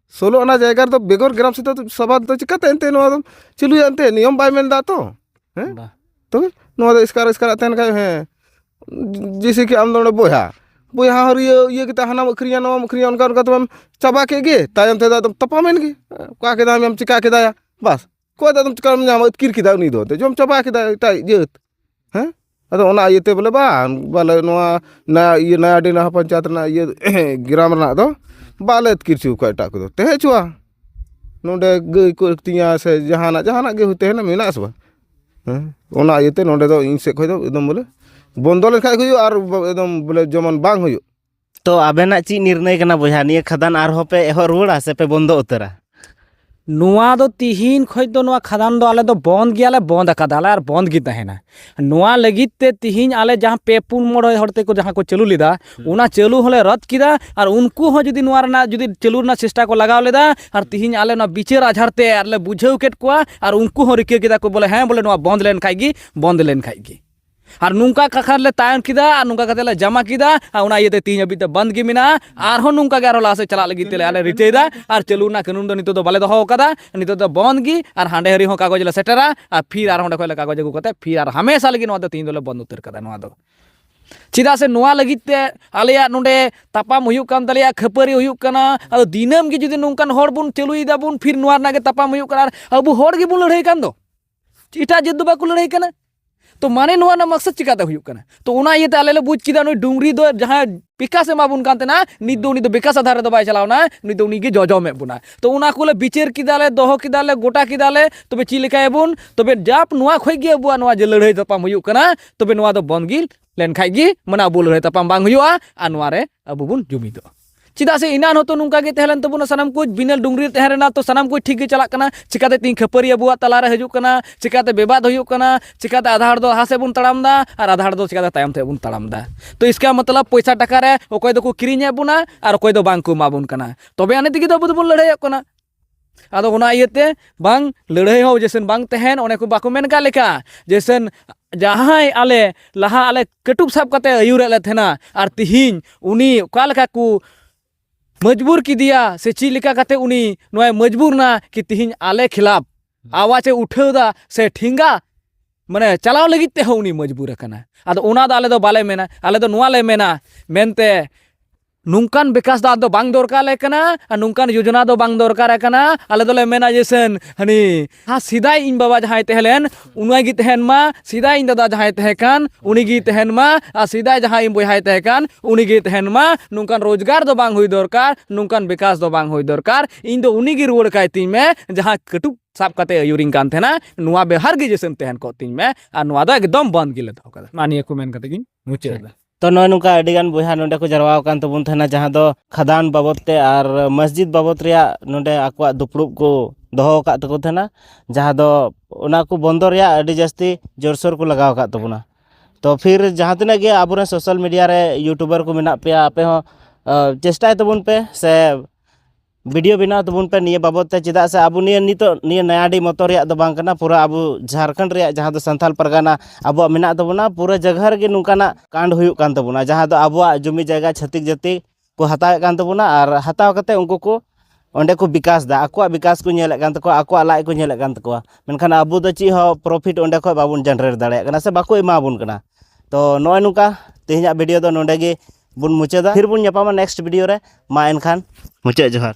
ᱥᱳᱞᱳ ᱟᱱᱟ ᱡᱟᱭᱜᱟ ᱨᱮᱫᱚ ᱵᱮᱜᱚᱨ ᱜᱨᱟᱢ ᱥᱮᱛᱟ ᱥᱚᱵᱷᱟ ᱫᱚ ᱪᱤᱠᱟᱹᱛᱮ ᱮᱱᱛᱮ ᱱᱚᱣᱟ ᱫᱚᱢ ᱪᱟᱹᱞᱩᱭᱟ ᱮᱱᱛᱮ ᱱᱤᱭᱚᱢ ᱵᱟᱭ ᱢᱮᱱᱫᱟ ᱛᱚ ᱦᱮᱸ ᱛᱚᱵᱮ ᱱᱚᱣᱟ ᱫᱚ ᱮᱥᱠᱟᱨ ᱮᱥᱠᱟᱨᱟᱜ ᱛᱟᱦᱮᱱ ᱠᱷᱟᱡ ᱦᱮᱸ ᱡᱮᱭᱥᱮ ᱠᱤ ᱟᱢ ᱫᱚ ᱱᱚᱰᱮ ᱵᱚᱭᱦᱟ ᱵᱚᱭᱦᱟ ᱦᱚᱸ ᱤᱭᱟᱹ ᱤᱭᱟᱹ ᱠᱟᱛᱮᱫ ᱦᱟᱱᱟᱢ ᱟᱹᱠᱷᱨᱤᱧᱟ ᱱᱚᱣᱟᱢ ᱟᱹᱠᱷᱨᱤᱧᱟ ᱚᱱᱠᱟ ᱚᱱᱠᱟ ᱛᱮᱢᱟᱢ ᱪᱟᱵᱟ ᱠᱮᱫ ᱜᱮ ᱛᱟᱭᱚᱢ ᱛᱮᱫᱚ ᱟᱫᱚᱢ ᱛᱟᱯᱟᱢᱮᱱ ᱜᱮ ᱚᱠᱟ ᱠᱮᱫᱟᱢ ᱪᱤᱠᱟᱹ ᱠᱮᱫᱟᱭᱟ ᱵᱟᱥ ᱚᱠᱚᱭ ᱫᱚ ᱟᱫᱚᱢ ᱪᱤᱠᱟᱹᱢ ᱧᱟᱢᱟ ᱟᱹᱛᱠᱤᱨ ᱠᱮᱫᱟᱭ ᱩᱱᱤ ᱫᱚ ᱡᱚᱢ ᱪᱟᱵᱟ ᱠᱮᱫᱟᱭ ᱮᱴᱟᱜ ᱡᱟᱹᱛ ᱦᱮᱸ ᱟᱫᱚ ᱚᱱᱟ ᱤᱭᱟᱹᱛᱮ ᱵᱚᱞᱮ ᱵᱟᱝ ᱵᱚᱞᱮ ᱱᱚᱣᱟ ᱤᱭᱟᱹ ᱱᱚᱭᱟᱰᱤ ᱱᱟᱣᱟ ᱯᱚᱧᱪᱟᱭᱮᱛ ᱨᱮᱱᱟᱜ ᱤᱭᱟᱹ ᱜᱨᱟᱢ ᱨᱮᱱᱟᱜ ᱫᱚ ᱵᱟᱞᱮ ᱟᱹᱛᱠᱤᱨ ᱦᱚᱪᱚ ᱠᱚᱣᱟ ᱮᱴᱟᱜ ᱠᱚᱫᱚ ᱛᱟᱦᱮᱸ ᱦᱚᱪᱚᱣᱟᱱ ᱱᱚᱰᱮ ᱜᱟᱹᱭ ᱠᱚ ᱟᱹᱛᱤᱧᱟ ᱥᱮ ᱡᱟᱦᱟᱱᱟᱜ ᱡᱟᱦᱟᱱᱟᱜ ᱜᱮ ᱛᱟᱦᱮᱱ ᱢᱮᱱᱟᱜ ᱟᱥᱮ ᱵᱟᱝ ᱦᱮᱸ ᱚᱱᱟ ᱤᱭᱟᱹᱛᱮ ᱱᱚᱰᱮ ᱫᱚ ᱤᱧ ᱥᱮᱫ ᱠᱷᱚᱱ ᱫᱚ ᱮᱠᱫᱚᱢ ᱵᱚᱞᱮ ᱵᱚᱱᱫᱚ ᱞᱮᱠᱷᱟᱱ ᱜᱮ ᱦᱩᱭᱩᱜᱼᱟ ᱟᱨ ᱮᱠᱫᱚᱢ ᱵᱚᱞᱮ ᱡᱮᱢᱚᱱ ᱵᱟᱝ ᱦᱩᱭᱩᱜ ᱛᱚ ᱟᱵᱮᱱᱟᱜ ᱪᱮᱫ ᱱᱤᱨᱱᱚᱭ ᱠᱟᱱᱟ ᱵᱚᱭᱦᱟ ᱱᱤᱭᱟᱹ ᱠᱷᱟᱫᱟᱱ ᱟᱨᱦᱚᱸ ᱯᱮ ᱮᱦᱚᱵ ᱨᱩᱣᱟᱹᱲᱟ ᱥᱮ ᱯᱮ ᱵᱚᱱᱫᱚ ᱩᱛᱟᱹᱨᱟ ᱱᱚᱣᱟ ᱫᱚ ᱛᱤᱦᱤᱧ ᱠᱷᱚᱡ ᱫᱚ ᱱᱚᱣᱟ ᱠᱷᱟᱫᱟᱱ ᱫᱚ ᱟᱞᱮ ᱫᱚ ᱵᱚᱱᱫ ᱜᱮᱭᱟᱞᱮ ᱵᱚᱱᱫ ᱟᱠᱟᱫᱟᱞᱮ ᱟᱨ ᱵᱚᱱᱫ ᱜᱮ ᱛᱟᱦᱮᱱᱟ ᱱᱚᱣᱟ ᱞᱟᱹᱜᱤᱫ ᱛᱮ ᱛᱤᱦᱤᱧ ᱟᱞᱮ ᱡᱟᱦᱟᱸ ᱯᱮ ᱯᱩᱱ ᱢᱚᱬᱮ ᱦᱚᱲ ᱛᱮᱠᱚ ᱡᱟᱦᱟᱸ ᱠᱚ ᱪᱟᱹᱞᱩ ᱞᱮᱫᱟ ᱚᱱᱟ ᱪᱟᱹᱞᱩ ᱦᱚᱸᱞᱮ ᱨᱚᱫ ᱠᱮᱫᱟ ᱟᱨ ᱩᱱᱠᱩ ᱦᱚᱸ ᱡᱩᱫᱤ ᱱᱚᱣᱟ ᱨᱮᱱᱟᱜ ᱡᱩᱫᱤ ᱪᱟᱹᱞᱩ ᱨᱮᱱᱟᱜ ᱪᱮᱥᱴᱟ ᱠᱚ ᱞᱟᱜᱟᱣ ᱞᱮᱫᱟ ᱟᱨ ᱛᱤᱦᱤᱧ ᱟᱞᱮ ᱱᱚᱣᱟ ᱵᱤᱪᱟᱹᱨ ᱟᱡᱷᱟᱨ ᱛᱮ ᱟᱨᱞᱮ ᱵᱩᱡᱷᱟᱹᱣ ᱠᱮᱫ ᱠᱚᱣᱟ ᱟᱨ ᱩᱱᱠᱩ ᱦᱚᱸ ᱨᱤᱠᱟᱹ ᱠᱮᱫᱟ ᱠᱚ ᱵᱚᱞᱮ ᱦᱮᱸ ᱵᱚᱞᱮ ᱱᱚᱣᱟ ᱵᱚᱱᱫ ᱞᱮᱱᱠᱷᱟᱡ ᱜᱮ ᱵᱚᱱᱫ ᱞᱮᱱᱠᱷᱟᱡ ᱜᱮ ᱟᱨ ᱱᱚᱝᱠᱟ ᱠᱟᱛᱷᱟ ᱞᱮ ᱛᱟᱭᱚᱢ ᱠᱮᱫᱟ ᱟᱨ ᱱᱚᱝᱠᱟ ᱠᱟᱛᱮ ᱞᱮ ᱡᱟᱢᱟ ᱠᱮᱫᱟ ᱟᱨ ᱚᱱᱟ ᱤᱭᱟᱹᱛᱮ ᱛᱤᱦᱤᱧ ᱦᱟᱹᱵᱤᱡ ᱛᱮ ᱵᱚᱱᱫ ᱜᱮ ᱢᱮᱱᱟᱜᱼᱟ ᱟᱨᱦᱚᱸ ᱱᱚᱝᱠᱟ ᱜᱮ ᱟᱨᱦᱚᱸ ᱞᱟᱦᱟ ᱥᱮᱫ ᱪᱟᱞᱟᱜ ᱞᱟᱹᱜᱤᱫ ᱛᱮᱞᱮ ᱟᱞᱮ ᱨᱤᱠᱟᱹᱭᱮᱫᱟ ᱟᱨ ᱪᱟᱹᱞᱩ ᱨᱮᱱᱟᱜ ᱠᱟᱹᱱᱩᱱ ᱫᱚ ᱱᱤᱛᱚᱜ ᱫᱚ ᱵᱟᱞᱮ ᱫᱚᱦᱚ ᱟᱠᱟᱫᱟ ᱱᱤᱛᱚᱜ ᱫᱚ ᱵᱚᱱᱫ ᱜᱮ ᱟᱨ ᱦᱟᱸᱰᱮ ᱦᱟᱹᱨᱤ ᱦᱚᱸ ᱠᱟᱜᱚᱡᱽ ᱞᱮ ᱥᱮᱴᱮᱨᱟ ᱟᱨ ᱯᱷᱤᱨ ᱟᱨᱦᱚᱸ ᱚᱸᱰᱮ ᱠᱷᱚᱱ ᱞᱮ ᱠᱟᱜᱚᱡᱽ ᱟᱹᱜᱩ ᱠᱟᱛᱮ ᱯᱷᱤᱨ ᱟᱨ ᱦᱟᱢᱮᱥᱟ ᱞᱟᱹᱜᱤᱫ ᱱᱚᱣᱟ ᱫᱚ ᱛᱤᱦᱤᱧ ᱫᱚᱞᱮ ᱵᱚᱱᱫ ᱩᱛᱟᱹᱨ ᱠᱟᱫᱟ ᱱᱚᱣᱟ ᱫᱚ ᱪᱮᱫᱟᱜ ᱥᱮ ᱱᱚᱣᱟ ᱞᱟᱹᱜᱤᱫ ᱛᱮ ᱟᱞᱮᱭᱟᱜ ᱱᱚᱰᱮ ᱛᱟᱯᱟᱢ ᱦᱩᱭᱩᱜ ᱠᱟᱱ ᱛᱟᱞᱮᱭᱟ ᱠᱷᱟᱹᱯᱟᱹᱨᱤ ᱦᱩᱭᱩᱜ ᱠᱟᱱᱟ ᱟᱫᱚ ᱫᱤᱱᱟᱹᱢ ᱜᱮ ᱡᱩᱫᱤ ᱱᱚᱝᱠᱟᱱ ᱦᱚᱲ ᱵᱚᱱ ᱪᱟᱹᱞᱩᱭ ᱫᱟᱵᱚᱱ ᱯᱷᱤᱨ ᱱᱚᱣᱟ ᱨᱮᱱᱟᱜ ᱜᱮ ᱛᱟᱯᱟᱢ ᱦᱩᱭᱩᱜ ᱠᱟᱱᱟ ᱟᱵᱚ ᱦᱚᱲ ᱜᱮᱵᱚᱱ ᱞᱟᱹᱲᱦᱟᱹᱭ ᱠᱟᱱ ᱫᱚ ᱮᱴᱟᱜ ᱡᱟᱹᱛ ᱫᱚ ᱵᱟᱠᱚ ᱞᱟᱹᱲᱦᱟᱹᱭ ᱠᱟᱱᱟ ᱛᱚ ᱢᱟᱱᱮ ᱱᱚᱣᱟ ᱨᱮᱱᱟᱜ ᱢᱟᱠᱥᱟᱫ ᱪᱤᱠᱟᱛᱮ ᱦᱩᱭᱩᱜ ᱠᱟᱱᱟ ᱛᱚ ᱚᱱᱟ ᱤᱭᱟᱹᱛᱮ ᱟᱞᱮ ᱞᱮ ᱵᱩᱡᱽ ᱠᱮᱫᱟ ᱱᱩᱭ ᱰᱩᱝᱨᱤ ᱫᱚ ᱡᱟᱦᱟᱸ ᱵᱤᱠᱟᱥ ᱮᱢᱟᱵᱚᱱ ᱠᱟᱱ ᱛᱟᱦᱮᱱᱟ ᱱᱤᱛ ᱫᱚ ᱩᱱᱤ ᱫᱚ ᱵᱤᱠᱟᱥ ᱟᱫᱷᱟᱨ ᱨᱮᱫᱚ ᱵᱟᱭ ᱪᱟᱞᱟᱣᱱᱟ ᱩᱱᱤ ᱫᱚ ᱩᱱᱤᱜᱮ ᱡᱚᱡᱚᱢᱮᱫ ᱵᱚᱱᱟ ᱛᱚ ᱚᱱᱟ ᱠᱚᱞᱮ ᱵᱤᱪᱟᱹᱨ ᱠᱮᱫᱟᱞᱮ ᱫᱚᱦᱚ ᱠᱮᱫᱟᱞᱮ ᱜᱚᱴᱟ ᱠᱮᱫᱟᱞᱮ ᱛᱚᱵᱮ ᱪᱮᱫ ᱞᱮᱠᱟᱭᱟᱵᱚᱱ ᱛᱚᱵᱮ ᱡᱟᱯ ᱱᱚᱣᱟ ᱠᱷᱚᱡ ᱜᱮ ᱟᱵᱚᱣᱟᱜ ᱱᱚᱣᱟ ᱡᱮ ᱞᱟᱹᱲᱦᱟᱹᱭ ᱛᱟᱯᱟᱢ ᱦᱩᱭᱩᱜ ᱠᱟᱱᱟ ᱛᱚᱵᱮ ᱱᱚᱣᱟ ᱫᱚ ᱵᱚᱱᱫᱽ ᱜᱮ ᱞᱮᱱᱠᱷᱟᱡ ᱜᱮ ᱢᱟᱱᱮ ᱟᱵᱚ ᱞᱟᱹᱲᱦᱟᱹᱭ ᱛᱟᱯᱟᱢ ᱵᱟᱝ ᱦᱩᱭᱩᱜᱼᱟ ᱟᱨ ᱱᱚᱣᱟ ᱨᱮ ᱟᱵᱚ ᱵᱚᱱ ᱡᱩᱢᱤᱫᱚᱜᱼᱟ ᱪᱮᱫᱟᱜ ᱥᱮ ᱤᱱᱟᱱ ᱦᱚᱸᱛᱚ ᱱᱚᱝᱠᱟ ᱜᱮ ᱛᱟᱦᱮᱸ ᱞᱮᱱ ᱛᱟᱵᱚᱱᱟ ᱥᱟᱱᱟᱢ ᱠᱚ ᱵᱤᱱᱟᱹ ᱰᱩᱝᱨᱤ ᱛᱟᱦᱮᱸ ᱨᱮᱱᱟᱜ ᱛᱚ ᱥᱟᱱᱟᱢ ᱠᱚ ᱴᱷᱤᱠ ᱜᱮ ᱪᱟᱞᱟᱜ ᱠᱟᱱᱟ ᱪᱤᱠᱟᱛᱮ ᱛᱤᱧ ᱠᱷᱟᱹᱯᱟᱹᱨᱤ ᱟᱵᱚᱣᱟᱜ ᱛᱟᱞᱟᱨᱮ ᱦᱤᱡᱩᱜ ᱠᱟᱱᱟ ᱪᱤᱠᱟᱛᱮ ᱵᱮᱵᱟᱫ ᱦᱩᱭᱩᱜ ᱠᱟᱱᱟ ᱪᱤᱠᱟᱛᱮ ᱟᱫᱷᱟ ᱦᱚᱲ ᱫᱚ ᱞᱟᱦᱟ ᱥᱮᱫ ᱵᱚᱱ ᱛᱟᱲᱟᱢ ᱫᱟ ᱟᱨ ᱟᱫᱷᱟ ᱦᱚᱲ ᱫᱚ ᱪᱤᱠᱟᱛᱮ ᱛᱟᱭᱚᱢ ᱥᱮᱫ ᱵᱚᱱ ᱛᱟᱲᱟᱢ ᱫᱟ ᱛᱚ ᱤᱥᱠᱟ ᱢᱚᱛᱞᱚᱵ ᱯᱚᱭᱥᱟ ᱴᱟᱠᱟ ᱨᱮ ᱚᱠᱚᱭ ᱫᱚᱠᱚ ᱠᱤᱨᱤᱧᱮᱫ ᱵᱚᱱᱟ ᱟᱨ ᱚᱠᱚᱭ ᱫᱚ ᱵᱟᱝ ᱠᱚ ᱮᱢᱟ ᱵᱚᱱ ᱠᱟᱱᱟ ᱛᱚᱵᱮ ᱟᱹᱱᱤᱡ ᱛᱮᱜᱮ ᱫᱚ ᱟᱵᱚ ᱫᱚᱵᱚᱱ ᱞᱟᱹᱲᱦᱟᱹᱭᱚᱜ ᱠᱟᱱᱟ ᱟᱫᱚ ᱚᱱᱟ ᱤᱭᱟᱹᱛᱮ ᱵᱟᱝ ᱞᱟᱹᱲᱦᱟᱹᱭ ᱦᱚᱸ ᱡᱮᱥᱮᱱ ᱵᱟᱝ ᱛᱟᱦᱮᱱ ᱚᱱᱮ ᱠᱚ ᱵᱟᱠᱚ ᱢᱮᱱ ᱠᱟᱜ ᱞᱮᱠᱟ ᱡᱮᱥᱮᱱ ᱡᱟᱦᱟᱸᱭ ᱟᱞᱮ ᱞᱟᱦᱟ ᱟᱞᱮ ᱠᱟᱹᱴᱩᱵ ᱥᱟᱵ ᱠᱟᱛᱮ ᱟᱹᱭᱩᱨᱮᱫ ᱞᱮ ᱛᱟᱦᱮᱱᱟ ᱟᱨ ᱛᱤᱦᱤᱧ ᱩᱱᱤ ᱚᱠᱟ ᱞᱮᱠᱟ ᱠᱚ ᱢᱚᱡᱽᱵᱩᱨ ᱠᱮᱫᱮᱭᱟ ᱥᱮ ᱪᱮᱫ ᱞᱮᱠᱟ ᱠᱟᱛᱮ ᱩᱱᱤ ᱱᱚᱣᱟᱭ ᱢᱚᱡᱽᱵᱩᱨ ᱱᱟ ᱠᱤ ᱛᱤᱦᱤᱧ ᱟᱞᱮ ᱠᱷᱤᱞᱟᱯ ᱟᱣᱟᱡᱽ ᱮ ᱩᱴᱷᱟᱹᱣ ᱫᱟ ᱥᱮ ᱴᱷᱮᱸᱜᱟ ᱢᱟᱱᱮ ᱪᱟᱞᱟᱣ ᱞᱟᱹᱜᱤᱫ ᱛᱮᱦᱚᱸ ᱩᱱᱤ ᱢᱚᱡᱽᱵᱩᱨ ᱟᱠᱟᱱᱟ ᱟᱫᱚ ᱚᱱᱟ ᱫᱚ ᱟᱞᱮ ᱫᱚ ᱵᱟᱞᱮ ᱢᱮᱱᱟ ᱟᱞᱮ ᱫᱚ ᱱᱚᱣᱟ ᱞᱮ ᱢᱮᱱᱟ ᱢᱮᱱᱛᱮ ᱱᱚᱝᱠᱟᱱ ᱵᱤᱠᱟᱥ ᱫᱚ ᱟᱫᱚ ᱵᱟᱝ ᱫᱚᱨᱠᱟᱨ ᱟᱞᱮ ᱠᱟᱱᱟ ᱟᱨ ᱱᱚᱝᱠᱟᱱ ᱡᱳᱡᱚᱱᱟ ᱫᱚ ᱵᱟᱝ ᱫᱚᱨᱠᱟᱨ ᱠᱟᱱᱟ ᱟᱞᱮ ᱫᱚᱞᱮ ᱢᱮᱱᱟ ᱡᱮ ᱥᱮᱱ ᱦᱟᱹᱱᱤ ᱦᱟ ᱥᱮᱫᱟᱭ ᱤᱧ ᱵᱟᱵᱟ ᱡᱟᱦᱟᱸᱭ ᱛᱟᱦᱮᱸ ᱞᱮᱱ ᱩᱱᱤ ᱜᱮ ᱛᱟᱦᱮᱱ ᱢᱟ ᱥᱮᱫᱟᱭ ᱤᱧ ᱫᱟᱫᱟ ᱡᱟᱦᱟᱸᱭ ᱛᱟᱦᱮᱸ ᱠᱟᱱ ᱩᱱᱤ ᱜᱮ ᱛᱟᱦᱮᱱ ᱢᱟ ᱟᱨ ᱥᱮᱫᱟᱭ ᱡᱟᱦᱟᱸᱭ ᱤᱧ ᱵᱚᱭᱦᱟᱭ ᱛᱟᱦᱮᱸ ᱠᱟᱱ ᱩᱱᱤ ᱜᱮ ᱛᱟᱦᱮᱱ ᱢᱟ ᱱᱚᱝᱠᱟᱱ ᱨᱳᱡᱽᱜᱟᱨ ᱫᱚ ᱵᱟᱝ ᱦᱩᱭ ᱫᱚᱨᱠᱟᱨ ᱱᱚᱝᱠᱟᱱ ᱵᱤᱠᱟᱥ ᱫᱚ ᱵᱟᱝ ᱦᱩᱭ ᱫᱚᱨᱠᱟᱨ ᱤᱧ ᱫᱚ ᱩᱱᱤ ᱜᱮ ᱨᱩᱣᱟᱹᱲ ᱠᱟᱭ ᱛᱤᱧ ᱢᱮ ᱡᱟᱦᱟᱸ ᱠᱟᱹᱴᱩᱵ ᱥᱟᱵ ᱠᱟᱛᱮ ᱟᱹᱭᱩᱨᱤᱧ ᱠᱟᱱ ᱛᱟᱦᱮᱱᱟ ᱱᱚᱣᱟ ᱵᱮᱣᱦᱟᱨ ᱜᱮ ᱡᱮᱥᱮᱢ ᱛᱟᱦᱮᱱ ᱠᱚᱜ ᱛᱤᱧ ᱢᱮ ᱟᱨ ᱱᱚᱣᱟ ᱫᱚ ᱮᱠᱫᱚᱢ ᱵᱚᱱᱫ ᱜᱮᱞᱮ ᱫᱚᱦᱚ ᱠᱟᱫᱟ ᱢᱟ ᱱᱤᱭᱟᱹ ᱠᱚ ᱢᱮᱱ ᱠᱟᱛᱮ ᱜᱤᱧ ᱢᱩᱪᱟᱹᱫ ᱮᱫᱟ ᱛᱚ ᱱᱚᱜᱼᱚᱭ ᱱᱚᱝᱠᱟ ᱟᱹᱰᱤᱜᱟᱱ ᱵᱚᱭᱦᱟ ᱱᱚᱸᱰᱮ ᱠᱚ ᱡᱟᱨᱣᱟ ᱟᱠᱟᱱ ᱛᱟᱵᱚᱱ ᱛᱟᱦᱮᱱᱟ ᱡᱟᱦᱟᱸ ᱫᱚ ᱠᱷᱟᱫᱟᱱ ᱵᱟᱵᱚᱫ ᱛᱮ ᱟᱨ ᱢᱚᱥᱡᱤᱫ ᱵᱟᱵᱚᱫ ᱨᱮᱭᱟᱜ ᱱᱚᱸᱰᱮ ᱟᱠᱚᱣᱟᱜ ᱫᱩᱯᱲᱩᱵ ᱠᱚ ᱫᱚᱦᱚ ᱟᱠᱟᱫ ᱛᱟᱠᱚ ᱛᱟᱦᱮᱱᱟ ᱡᱟᱦᱟᱸ ᱫᱚ ᱚᱱᱟ ᱠᱚ ᱵᱚᱱᱫᱚ ᱨᱮᱭᱟᱜ ᱟᱹᱰᱤ ᱡᱟᱹᱥᱛᱤ ᱡᱳᱨᱥᱳᱨ ᱠᱚ ᱞᱟᱜᱟᱣ ᱟᱠᱟᱫ ᱛᱟᱵᱚᱱᱟ ᱛᱚ ᱯᱷᱤᱨ ᱡᱟᱦᱟᱸ ᱛᱤᱱᱟᱹᱜ ᱜᱮ ᱟᱵᱚ ᱨᱮᱱ ᱥᱳᱥᱟᱞ ᱢᱤᱰᱤᱭᱟ ᱨᱮ ᱤᱭᱩᱴᱩᱵᱟᱨ ᱠᱚ ᱢᱮᱱᱟᱜ ᱯᱮᱭᱟ ᱟᱯᱮ ᱦᱚᱸ ᱪᱮᱥᱴᱟᱭ ᱛᱟᱵᱚᱱ ᱯᱮ ᱥᱮ ᱵᱷᱤᱰᱤᱭᱳ ᱵᱮᱱᱟᱣ ᱛᱟᱵᱚᱱ ᱯᱮ ᱱᱤᱭᱟᱹ ᱵᱟᱵᱚᱫ ᱛᱮ ᱪᱮᱫᱟᱜ ᱥᱮ ᱟᱵᱚ ᱱᱤᱭᱟᱹ ᱱᱤᱛᱚᱜ ᱱᱤᱭᱟᱹ ᱱᱚᱭᱟᱰᱤ ᱢᱚᱛᱚ ᱨᱮᱭᱟᱜ ᱫᱚ ᱵᱟᱝ ᱠᱟᱱᱟ ᱯᱩᱨᱟᱹ ᱟᱵᱚ ᱡᱷᱟᱲᱠᱷᱚᱸᱰ ᱨᱮᱭᱟᱜ ᱡᱟᱦᱟᱸ ᱫᱚ ᱥᱟᱱᱛᱟᱲ ᱯᱟᱨᱜᱟᱱᱟ ᱟᱵᱚᱣᱟᱜ ᱢᱮᱱᱟᱜ ᱛᱟᱵᱚᱱᱟ ᱯᱩᱨᱟᱹ ᱡᱟᱭᱜᱟ ᱨᱮᱜᱮ ᱱᱚᱝᱠᱟᱱᱟᱜ ᱠᱟᱱᱰ ᱦᱩᱭᱩᱜ ᱠᱟᱱ ᱛᱟᱵᱚᱱᱟ ᱡᱟᱦᱟᱸ ᱫᱚ ᱟᱵᱚᱣᱟᱜ ᱡᱩᱢᱤ ᱡᱟᱭᱜᱟ ᱪᱷᱟᱹᱛᱤᱠ ᱡᱟᱹᱛᱤ ᱠᱚ ᱦᱟᱛᱟᱣᱮᱫ ᱠᱟᱱ ᱛᱟᱵᱚᱱᱟ ᱟᱨ ᱦᱟᱛᱟᱣ ᱠᱟᱛᱮ ᱩᱱᱠᱩ ᱠᱚ ᱚᱸᱰᱮ ᱠᱚ ᱵᱤᱠᱟᱥᱫᱟ ᱟᱠᱚᱣᱟᱜ ᱵᱤᱠᱟᱥ ᱠᱚ ᱧᱮᱞᱮᱫ ᱠᱟᱱ ᱛᱟᱠᱚᱣᱟ ᱟᱠᱚᱣᱟᱜ ᱞᱟᱡ ᱠᱚ ᱧᱮᱞᱮᱫ ᱠᱟᱱ ᱛᱟᱠᱚᱣᱟ ᱢᱮᱱᱠᱷᱟᱱ ᱟᱵᱚ ᱫᱚ ᱪᱮᱫ ᱦᱚᱸ ᱯᱨᱚᱯᱷᱤᱴ ᱚᱸᱰᱮ ᱠᱷᱚᱡ ᱵᱟᱵᱚᱱ ᱡᱮᱱᱨᱮᱴ ᱫᱟᱲᱮᱭᱟᱜ ᱠᱟᱱᱟ ᱥᱮ ᱵᱟᱠᱚ ᱮᱢᱟᱵᱚᱱ ᱠᱟᱱᱟ ᱛᱚ ᱱᱚᱜᱼᱚᱭ ᱱᱚᱝᱠᱟ ᱛᱮᱦᱮᱧᱟᱜ ᱵᱷᱤᱰᱤᱭᱳ ᱫᱚ ᱱᱚᱸᱰᱮ ᱜᱮ ᱵᱚᱱ ᱢᱩᱪᱟᱹᱫᱟ ᱯᱷᱤᱨ ᱵᱚᱱ ᱧᱟᱯᱟᱢᱟ ᱱᱮᱠᱥᱴ ᱵᱷᱤᱰᱤᱭᱳ ᱨᱮ ᱢᱟ ᱮᱱᱠᱷᱟᱱ ᱢᱩᱪᱟᱹᱫ ᱡᱚᱦᱟᱨ